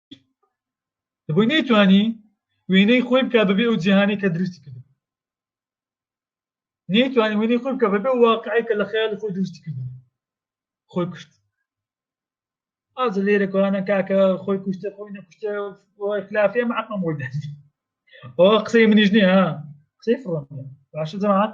دەبووی نەیتوانی وێنەی خۆی بکە بەبێ ئەو جیهانی کە دروستی کرد نەیتوانی وێنەی خۆی بکە بەبێ واقعی کە لە خەیاڵی خۆی دروستی کرد خۆی کوشت ئاز لێرە کۆانە کاکە خۆی کوشتە خۆی نەکوشتە خلافێ عقم بۆ دەست ئەو قسەی منیش نیە قسەی فڕۆن باشە جەماعات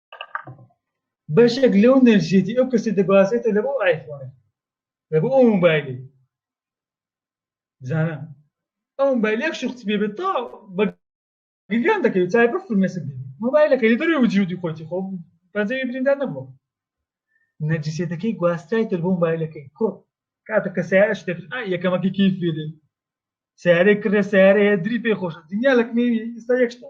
بەشێک لەو نەرجێتی ئەو کەسی دەگوازێتە لە بۆ ئایفۆنە لە بۆ ئەو موبایلی بزانە ئەو موبایلێک شخص بێ بێت تا بە گریان دەکەوێت چای بە فرمێسک بێت موبایلەکە لە دەروی وجودی خۆتی خۆ پەنجەوی بریندار نەبووە نەرجسێتەکەی گواستای تر بۆ موبایلەکەی کۆ کاتە کە سیارە شتێک یەکەمەکەی کیف بێت سیارەی کڕێ سیارەیە دری پێ خۆشە دنیا لەکنێوی ئستا یەکشتا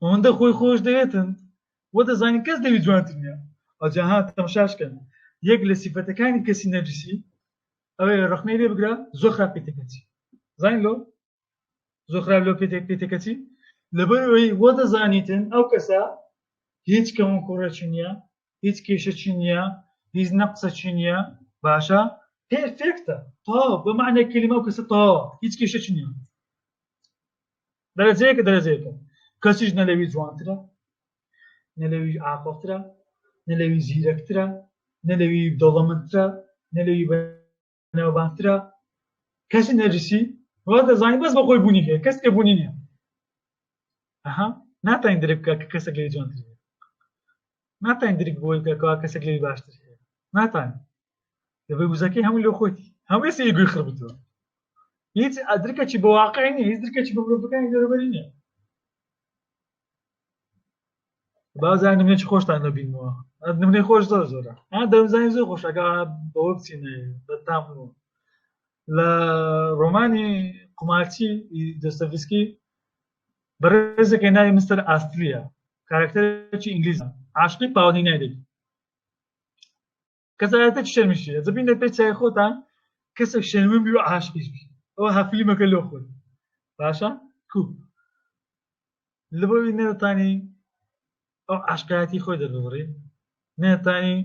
ئەوەندە خۆی خۆش دەوێتن و دەزانین کەس لەوی جوانتر نیە ئەجا ها تەمشاش کەن یەک لە سیفەتەکانی کەسی نەرجسی ئەوەیە ڕەخنەی لێ بگرە زۆر خراپ پێ تێکەچی زانین لۆ زۆر خراپ لەو پێ پێ تێکەچی لەبەر ئەوەی وە دەزانیتن ئەو کەسە هیچ کەمون کوڕەچی نییە هیچ کێشەچی نییە هیچ نەقسەچی نییە باشە پێرفێکتە تاو بە معنی کلمە و کەسە تاوە هیچ کێشەچی نییە دەرەجەیەکە دەرەجەیەکە کەسیش نە لەوی جوانترە نە لەوی ئاقڵترە نە لەوی زیرەکترە نە لەوی دەوڵەمەندترە نە لەوی بەناوبانگترە کەسی نەرجسی وا دەزانین بەس بەخۆی بوونی هەیە کەس کە بوونی نیە ئەها ناتوانین درک بکە کە کەسێک لەوی جوانتر ناتوانین درک بۆی کە کەسێک لەوی باشتر هەیە ناتوانین دەبێ وزەکەی هەموو لۆ خۆتی هەمووی سەی گوێ خڕبتەوە هیچ ئەدرکەکی بە واقعی نیە هیچ درکەکی بە مرۆڤەکانی دەرەبەری نیە بازان نمێکی خۆشتان نەبینەوە نمونەی خۆش زۆر زۆرە ئە دەمزانانی زۆر خۆشەکە بەوە بچین بەتام لە ڕۆمانی قومارچی دەستەفیسکی بەڕێزەکە ناوی مستەر ئاستریە کارکتەرێکی ئینگلیز عاشقی پاوەنی نایدەبی کەسایەتە شەرمیشی ئەزە بینە پێ چای خۆتان کەسێک شەرمن بی و عاشقیش بی ئەوە هەفلیمەکە لۆ خۆی باشە کو لەبەوی نەتانی ئەو عاشقایەتی خۆی دەبڕی نەتانی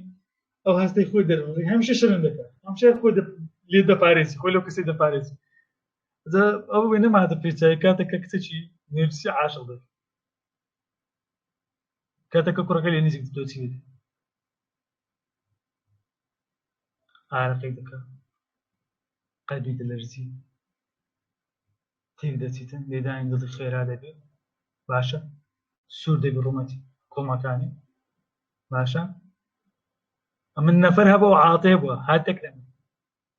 ئەو هەستی خۆی دەبڕی هەمیشە شەرم دەکات هەمشە خۆ لێ دەپارێزی خۆی لەو کەسی دەپارێزی ئەو وێ نەمادە پێچای کاتەکە کچێکی نێرسی عاشق دەبێت کاتەکە کوڕەکە لێ نزیک دۆچی دەبێت ئارەقەی دەکا قەلبی دەلەرزی تێک دەچیتن لێدانی دڵی خێرا دەبێ باشە سوور دەبی ڕوومەتی کۆمەکانی باشە ئەمن نەفەر هەبە و عاتێ بووە هاتێک لە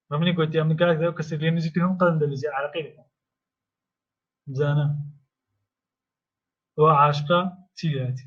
من منی گوتی ئەمن کاک دەو کەسێک لێ نزیک هەم قەلم دەلەرزی عراقی دەکەم زانە ئەو عاشقا چی لێتی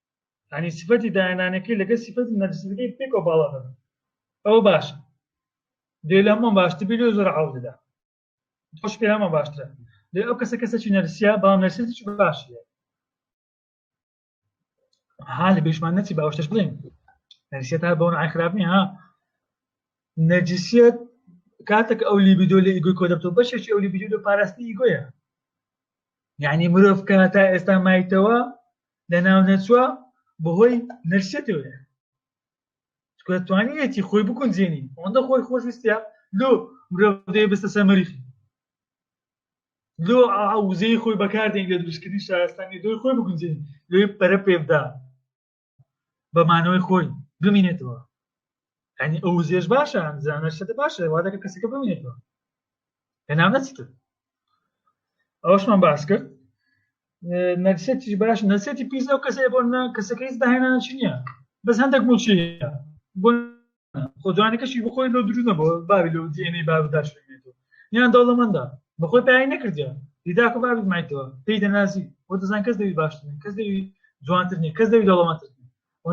ینی سفەتی داهێنانەکەی لەگە سفەتی نەرسەکەی پێکەوە باڵا دەبن ئەوە باشە دێ لە هەمووان باشتر بی لێ زۆر عاڵ دەدا تۆش پێ هەمە باشترە لێ ئەو کەسە کەسەی نەرسیا بەڵام نەرسێتیش باش ها لە بێشمان نەچی باوەشتش بڵێن نەرسیە تا بەون ئای خراپ نیە ها نەرجسیەت کاتێک ئەو لیبیدۆ لە ئیگوی کۆ دەبتەوە بەشێکی ئەو لیبیدۆ پاراستنی ئیگۆیە یعنی مرۆڤ کە تا ئێستا مایتەوە لەناونەچووە بەهۆی نەرسێتەوەیە چکە توانیوێتی خۆی بکونجێنی ئەوەندە خۆی خۆشویستە لۆ مرۆڤدەی بستە سەر مەریخی لۆ ئاوزەی خۆی بەکاردێن لە دروستکردنی شارستانی دۆی خۆی بگونجێن لۆی پەرە پێبدا بەمانەوەی خۆی بمینێتەوە ئەنی ئەو زێش باشە زانە شەدە باشە وادەکە کەسەکە بمێنێتەوە هێنام نەچتر ئەوشمان باس کرد نەرسێتی باش نەسێتی پیس ئەو کەسێ بۆ نە کەسەکە هیچ داهێنان چ نییە بەس هەندێک موچی بۆ خۆجوانەکەشی بخۆی لۆ درو نەبوو باوی لەو جێنەی بابداش یان دەوڵەمەندە بەخۆی پای نەکردیا دیداکە بابی مایتەوە پێی دەنازی بۆ دەزان کەس دەوی باشترین کەس دەوی جوانترنی کەس دەوی دەوڵەمەتر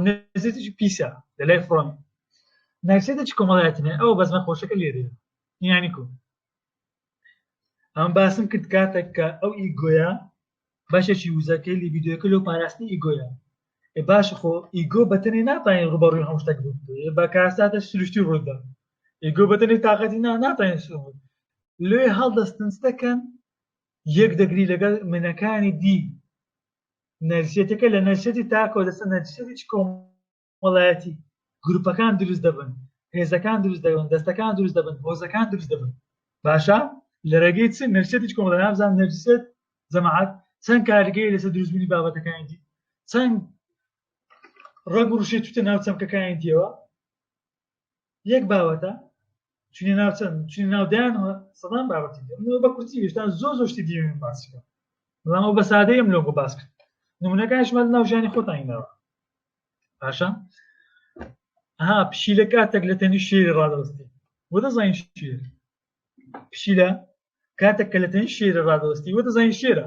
نەزیتیش پیسە لە لای فڕۆن ناوسێتە چ کۆمەڵایەتنێ ئەو بەزمە خۆشەکە لێرێ یانی کو ئەم باسم کرد کاتێک کە ئەو ئیگۆیە بەشێکی وزەکەی لە ویددیوەکە لەو پاراستنی ئیگۆیە باش خۆ ئیگۆ بەتەنێ ناتوانین ڕوبەڕووی هەم شتێک بوو بە کاساتە سروشتی ڕوودا ئیگۆ بەتەنێ تااقەتی نا ناتوانین سوود لێ هەڵدەستنس دەکەن یەک دەگری لەگەڵ منەکانی دی نەرسێتەکە لە نەرسێتی تاکەوە دەستە نەرسێتی کۆمەڵایەتی گروپەکان دروست دەبن هێزەکان دروست دەبن دەستەکان دروست دەبن هۆزەکان دروست دەبن باشە لە ڕێگەی چ نەرسێتی کۆمەڵای نابزان نەرسێت جەماعات چەند کارگەی لەسەر دروستبوونی بابەتەکانی دی چەند ڕەگ ڕوشێت توتە ناو چەمکەکانی دیەوە یەک باوەتە چونی ناو چەند چونی ناو دایان سەدان باوەتی منەوە بە کورتی ویشتا زۆ زۆ شتی دیێن باسیکە بەڵام ئەو بە سادەیە من لۆگۆ باس کرد نمونونەکانشمە ناو ژانی خۆتانینەوە باشە ها پشیلە کاتێک لە تەنی شێری ڕادەستی وە دەزانین شێر پشیلە کاتێک کە لە تەنی شێرە ڕادەستی وە دەزانین شێرە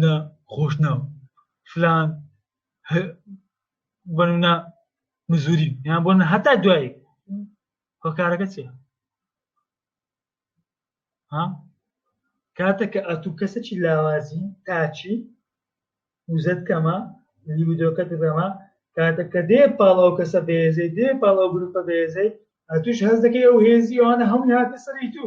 نە خۆشناو فلان بنە مزوری یان بۆ هەتا دوایی هۆکارەکە چیە ها کاتە کە ئەتو کەسەکی لاوازی تاچی وزت کەمە لیبیدۆکەت بەمە کاتە کە دێ پاڵاو کەسە بێزەی دێ پاڵاو گروپە بێزەی ئەتوش هەز دەکەی ئەو هێزی ئەوانە هەمووی هاتە سەری تو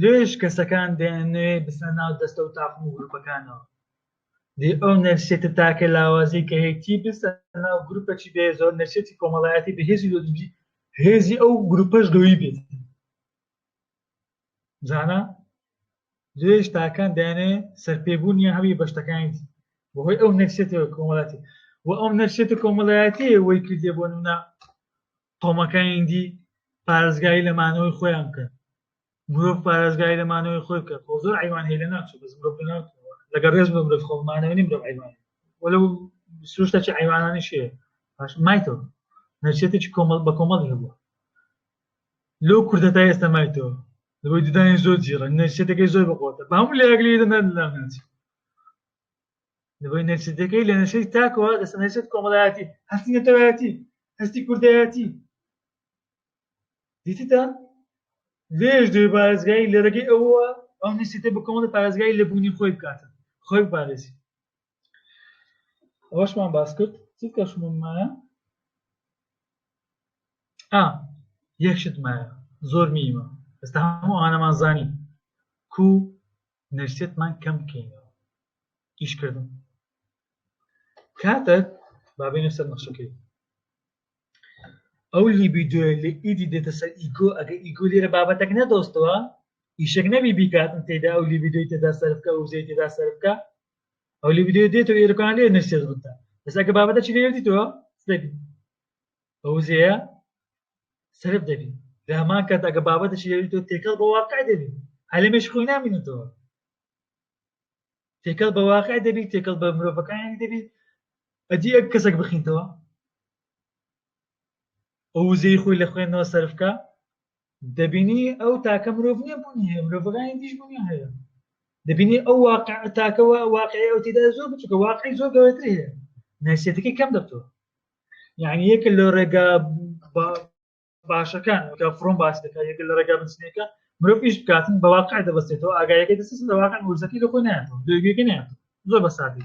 لێش کەسەکان دەیانەوێ بسە ناو دەستە و تاقم و گروپەکانەوە دی ئەو نەرسێتە تاکە لاوازی کە هەیەتی بسە ناو گروپەچی بێ زۆر نەرسێتی کۆمەڵایەتی بەهێزی لۆجی هێزی ئەو گروپەش گەوی بێت زانە لێش تاکان دەیانێ سەرپێبوونی هەوی بەشتەکانی بەهۆی ئەو نەرسێتەوە کۆمەڵاتی و ئەو نەرسێتە کۆمەڵایەتی وەی کردێ بۆ نە قەومەکانی دی پارێزگاری لە مانەوەی خۆیان بکەن مرۆڤ پارێزگاری لە مانەوەی خۆی بکە خۆ زۆر ئەیوان هەیە لە ناچوو بەس مرۆڤ لە ناو لەگەڵ ڕێز بە مرۆڤ خۆمانەوە نیم مرۆڤ ئەیوان وەلە سروشتەکی ئەیوانانی شێ باش مایتەوە نەچێتێکی کۆمەڵ بە کۆمەڵی هەبووە لۆ کوردە تا ئێستا مایتەوە لەوەی ددانی زۆر جیڕە نەچێتەکەی زۆر بەقۆتە بە هەموو لەگلی دەنەر لام ناچێت لەبەر نەچیتەکەی لە نەشەی تاکەوە دەسە نەچێت کۆمەڵایەتی هەستی نەتەوایەتی هەستی کوردایەتی دیتیدا لێش دوێ پارێزگایی لە ڕێگەی ئەوە ئەو نسیتە بە کۆمەڵ پارێزگای لە بوونی خۆی بکاتە خۆی بپارێزی ئەوەشمان باس کرد چ کەشممایە ئا یەکشتمایە زۆر میمە ئێستا هەموو ئانەمان زانی کو نەرسێتمان کەم بکەینەوە ئیشکردن کاتێک بابێنە سەر نەخشەکەی ئەو لیبیدۆ لە ئیدی دێتە سەر ئیگۆ ئەگە ئیگۆ لێرە بابەتەک نەدۆستەوە ئیشێک نەبی بیکاتن تێدا ئەو لیبیدۆی تێدا سەرفکە و زەی تێدا سەرفکە ئەو لیبیدۆ دێتەوە ئێرەکان لێ نەرسێت بتە بەسەکە بابەتە چی لێردیتەوە بە وزەیە سرف دەبی لە هەمان کات ئەگە بابەتەشی لێوی تۆ تێکەڵ بە واقع دەبی عەلەمێش خۆی نامینێتەوە تێکەڵ بە واقع دەبی تێکەڵ بە مرۆڤەکانی دەبی ئەدی ئەک کەسێک بخینتەوە ئەو وزەی خۆی لە خوێندنەوە سەرفکە دەبینی ئەو تاکە مرۆڤ نیە بوونی هەیە مرۆڤەکانی دیش بوونی هەیە دەبینی ئەو واقع تاکەوە واقعی ئەو تێدا زۆر بچکە واقعی زۆر گەورەتر هەیە ناسیەتەکەی کەم دەبتەوە یعنی یەکە لە ڕێگا باشەکان وەکە فڕۆم باس دەکە یەکە لە ڕێگا بنسنەکە مرۆڤ پیش بکاتن بە واقع دەبستێتەوە ئاگایەکە دەست لە واقع ورزەکەی لە خۆی ناتەوە دوێگەکە ناتەوە زۆر بە سادی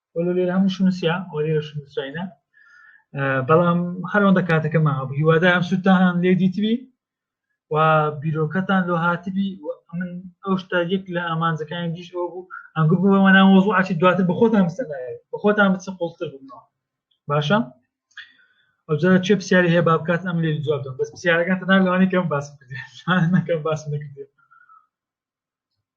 وەلو لێرە هەمووشو نووسیا ئەو لێرەش نووسراینە بەڵام هەرەوەندە کاتەکەمان هەبوو هیوادارم سوودتان لێ دیتبی و بیرۆکەتان لۆ هاتبی من ئەو شتا یەک لە ئامانجەکانی دیش ئەو بوو ئەنگو بووەوەنا مۆزوو ئاچی دواتر بە خۆتان بستە بە خۆتان بچ قوڵتر بوونەوە باشە ئەوجا چێ پرسیاری هەیە بابکات ئەم لێ جواب دەم بەس پرسیارەکان تەنها لەوانی کەم باس نەکەم باس نەکردێت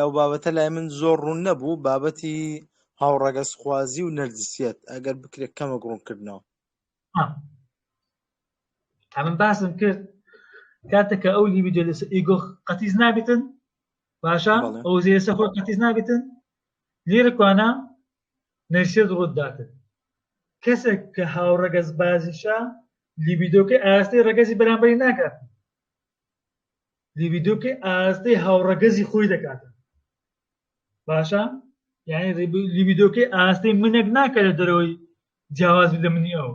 ئەو بابەتە لای من زۆر ڕوون نەبوو بابەتی هاوڕەگەز خوازی و نەرجسیەت ئەگەر بکرێت کەمە گڕونکردنەوە تامن باسم کرد کاتەکە ئەو لیبیدۆ لەس ئیگۆ قەتیز نابێتن باشە ئەو زێسە خۆ قەتیز نابێتن لێرەکوانە نەرسێت ڕووداتن کەسێک کە هاوڕەگەز بازیشە لیبیدۆکەی ئاستەی ڕەگەزی بەرامبەری ناکات لیبیدۆکەی ئاراستەی هاوڕەگەزی خۆی دەکاتە باشە یعنی لیبیدۆکەی ئاراستەی منێک ناکە لە دەرەوەی جیاواز لە منی ئەو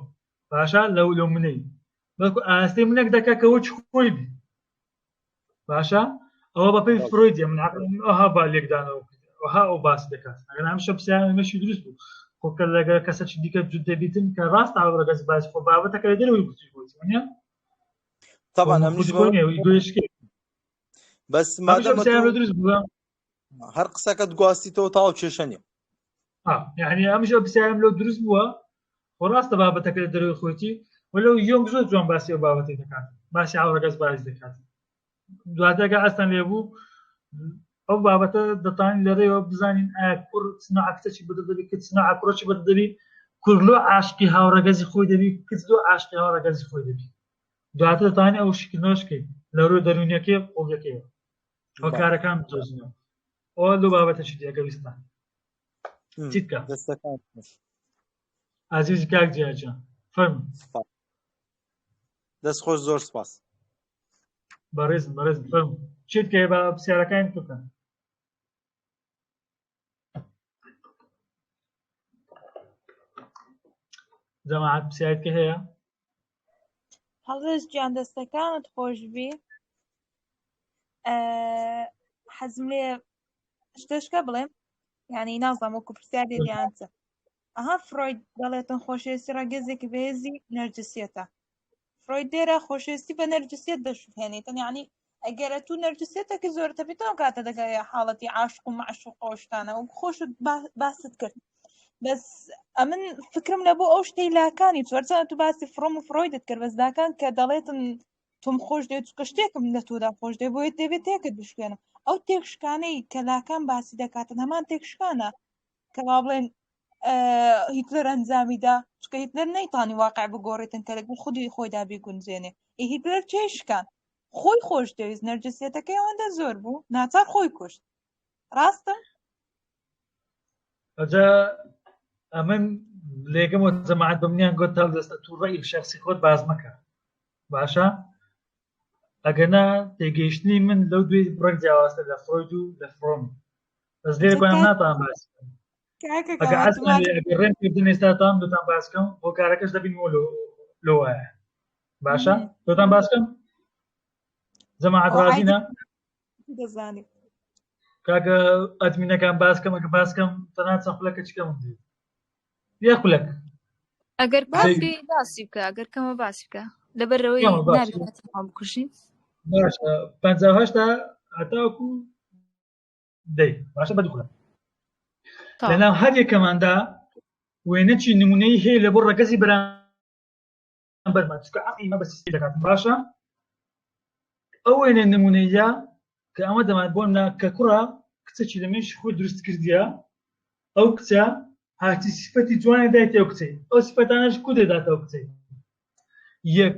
باشە لەو لەو منەی بەڵکو ئاراستەی منێک دەکە کە وەچ خۆی بی باشە ئەوە بەپی فرۆی دێ من ئەها با لێکدانەوە وها ئەو باس دەکات ئەگەر ئەم شەپسیان مەشی دروست بوو خۆکە لەگە کەسە چ دیکە جود دەبیتن کە ڕاست ئاڕەگەز باز خۆ بابەتەکە دەرەوەی گوتی بۆ طبعا ئەمنی بەس هەر قسەکەت گواستیتەوە تاو کێشە نیە یعنی ئەمژە پرسیارم لەو دروست بووە خۆ ڕاستە بابەتەکە لە دەروی خۆتی وەلو یۆنگ زۆر جوان باسی و بابەتی دەکات باسی ئاوڕگەز باز دەکات دواتەکە ئەستان لێ بوو ئەو بابەتە دەتوانین لەرێیەوە بزانین ئایا کوڕ چ نوعە کچێکی بەدڵ دەبی کچ چ نوعە کوڕێکی بەدڵ دەبی کوڕ لۆ عاشقی هاوڕەگەزی خۆی دەبی کچ لۆ عاشقی هاوڕەگەزی خۆی دەبی دواتر دەتوانین ئەو شیکردنەوەش بکەین لە رووی دەروونیەکەی و قوڵیەکەیەوە ئەو کارەکان بدۆزینەوە ئەو لۆ بابەتەشی دی ئەگەر ویستمان چی بکەم دەستەکان خۆش ئازیزی کاک جیاجان فەرموو سپاس. دەست خۆش زۆر سپاس بەڕێز بەڕێز بفەرم چێت کە بە پرسیارەکان بکەن جەماعات پرسیارت کە هەیە هەڵێز گیان دەستەکانت خۆشبی حەزم لێ شتشکە بڵێم یعنی نازانم وەکو پرسیار دیانچە ئەها فرۆید دەڵێتن خۆشەویستی ڕەگەزێکی بەهێزی نەرجسیەتە فرۆید دێرە خۆشەویستی بە نەرجسیەت دەشوهێنیتن یعنی ئەگەرە تو نەرجسیەتەکی زۆرتە بێتەوە کاتە دەگەی حاڵەتی عاشق و معشوق ئەوشتانە و خۆش باست کرد بەس ئەمن فکرم لە بۆ ئەو شتەی لاکانی چۆرچە تو باسی فڕۆم و فرۆیدت کرد بەس لاکان کە دەڵێتن تۆم خۆش دێت چکە شتێکم لە تۆدا خۆش دێ بۆیە دەبێت تێکت بشکێنم ئەو تێکشکانەی کە لاکان باسی دەکاتن هەمان تێکشکانە کە وا بڵێن هیتلەر ئەنجامیدا چکە هیتلەر نەیتانی واقع بگۆڕێتن کە لەگەڵ خودی خۆیدا بیگونجێنێ هیتلەر چێشکان خۆی خۆش دەویست نەرجسیەتەکەی ئەوەندە زۆر بوو ناچار خۆی کوشت ڕاستم ئەجا ئەمن لێگەم و جەماعات بمنیان گۆت تا دەستە تووڕەی شخصی خۆت باز مەکە باشە ئەگەنا تێگەیشتنی من لەو دوێ بڕێک جیاوازتە لە فرۆید و لە فرۆم بەس لێ گویان ناتان باس ڕێم کردن ئێستاتان دوتان باسکەم بۆ کارەکەش دەبین بۆ لۆ وایە باشە دوتان باسکەم جەماعەت ڕازینە دەزانێت کاکە ئەدمینەکان باسکەمەکە باسکەم تەنا چەند خولەکە چکەم یە خولەک ئەگەر باسی باسی بکە ئەگەر کەمە باسی بکە لەبەرەوەی بکوژین پهشتا هەتاکو دەی باشە بە دوخە لەناو هەر یەکەماندا وێنەچی نمونەی هەیە لە بۆ ڕەگەزی برا بەرمان چکە ئەقیمە بە سیسی دەکات باشە ئەو وێنە نمونەیە کە ئەمە دەمان بۆ نا کە کوڕە کچێکی لە منش خۆی دروست کردیە ئەو کچە هاتی سفەتی جوانە دایتەوە کچەی ئەو سفەتانەش کو دەداتەوە کچەی یەک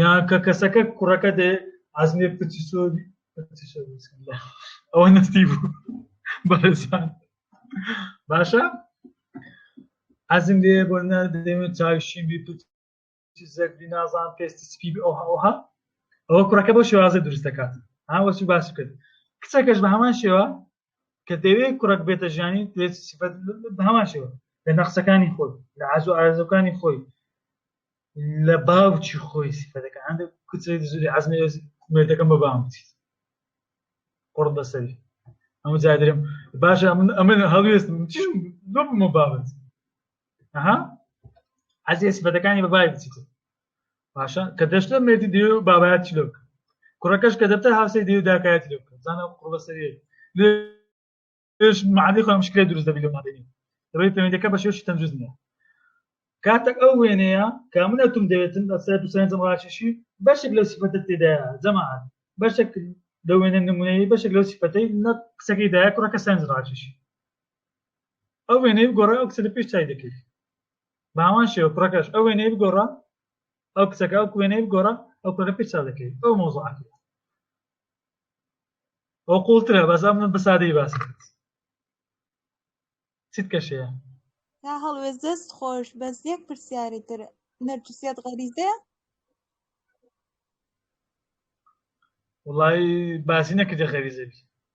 یان کە کەسەکە کوڕەکە دێ عزمێ پچی سۆری ئەوە نستی بوو بەرزان باشە عزم لێ بۆ نادەێت چاوشین بی پچی زەردی نازان پێستی سپی ئەوها ئەوها ئەوە کوڕەکە بۆ شێوازە دروستەکات هاوەچی باس کرد کچەکەش بە هەمان شێوە کە دەوێت کوڕک بێتە ژیانی دەوێت سفەت بە هەمان شێوە لە نەخسەکانی خۆی لە ئازو ئارزەکانی خۆی لە باوچی خۆی سفەتەکە هەندێک کچێک زوری عزمی مێردەکەم بە بام بچیت قڕ بەسەری ئەمە جادرم باشە من ئەمە هەڵوێستم چیم بمە بابەت ئەها عزیێ سفەتەکانی بە بای بچیت باشە کە دەشتە مێردی دێ و بابایەت چلۆ بکە کوڕەکەش کە دەبتە هاوسەی دێ و داکایەت لێ بکە زانە قوڵە سەری لێش معادی خۆم شکێ دروست دەبی لە مادەنی ڕێی پەیوەندەکە بە شێوشی تەندروست نیە کاتێک ئەو وێنەیە کامنە تم دەوێتن لە سەر دوسەنجم ڕاشیشی بەشێک لە سیفەتە تێدا جەماعات بەشێک لە وێنە نمونەیە بەشێک لەو سیفەتەی نە قسەکەی دایە کوڕەکە سەنج ڕاشیشی ئەو وێنەی گۆڕای ئەو قسە لە پێش چای دەکرد باوان شێوە کوڕەکەش ئەو وێنەی بگۆڕە ئەو کچەکە ئەو وێنەی بگۆڕە ئەو کوڕە پێ چا دەکەیت ئەو مۆزعاتی ئەو قوڵترە بەزا من بەسادەی باس چیت کەشەیە تا هەڵوێز دەست خۆش بەس یەک پرسیاری تر نەرجسیات غەریزەیە وڵی باسی نەکردە غەریزەبی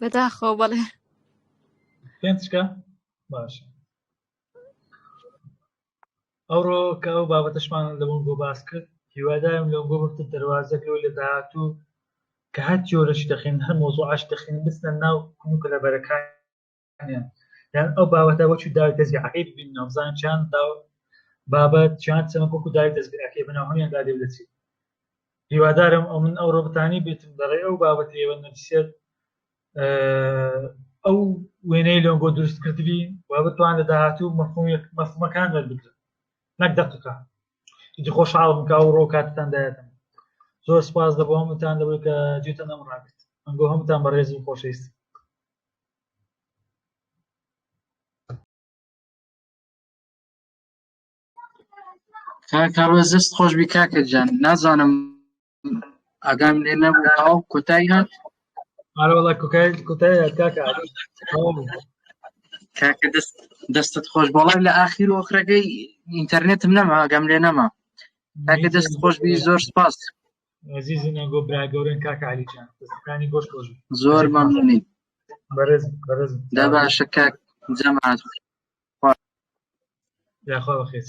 بەداخەوە بەڵێ پێنج چکە باش ئەوڕۆ کە ئەو بابەتەشمان لە بۆن بۆ باس کرد هیوادارم لەو بۆ بەفتە دەواازەکەەوە لە داهاتوو کە هەر جۆرەش دەخین هەر مۆزۆ ئاش دەخین بستە ناو کونکە لە بەرەکان یان ئەو باوەتە وەچ داوی تەزیعەکەی ببین نامزان چیان دا بابەت چیان چەمەکۆک و داوی تەزبیعەکەی بنەوە هەمیان دا دەچێت هیوادارم ئەو من ئەو ڕۆبتانی بێتم دەڕێ ئەو بابەت ئێوە نەبسێت ئەو وێنەی لۆنگۆ دروست کردبی و بتوان لە داهاتوو مەفهومێک مەفهمەکان دەربکرن نەک دەقەکە هیچ خۆش حاڵ بکە و ڕۆ کاتتان دایەتم زۆر سپاس دەبوومتان دەبێت کە جێتە نەم ڕاگرت ئەنگۆ هەمتان بەڕێزی خۆشەویست کاکڕۆز دەست خۆش بی کاکە جان نازانم ئاگام لێ نەبوو کۆتای هات ئارەوەڵە کوکای کوتای کاکە کاکە دەست دەستت خۆش بەڵام لە ئاخیر وەخرەکەی ئینتەرنێتم نەما ئاگام لێ نەما کاکە دەست خۆش بی زۆر سپاس عزیزن ئەگۆ برا گەورن کاکە علی جان دەستەکانی گۆش خۆش بێت. زۆر مەمنونی بەرز بەرز دا باشە کاک جەماعەت یاخوا بەخێت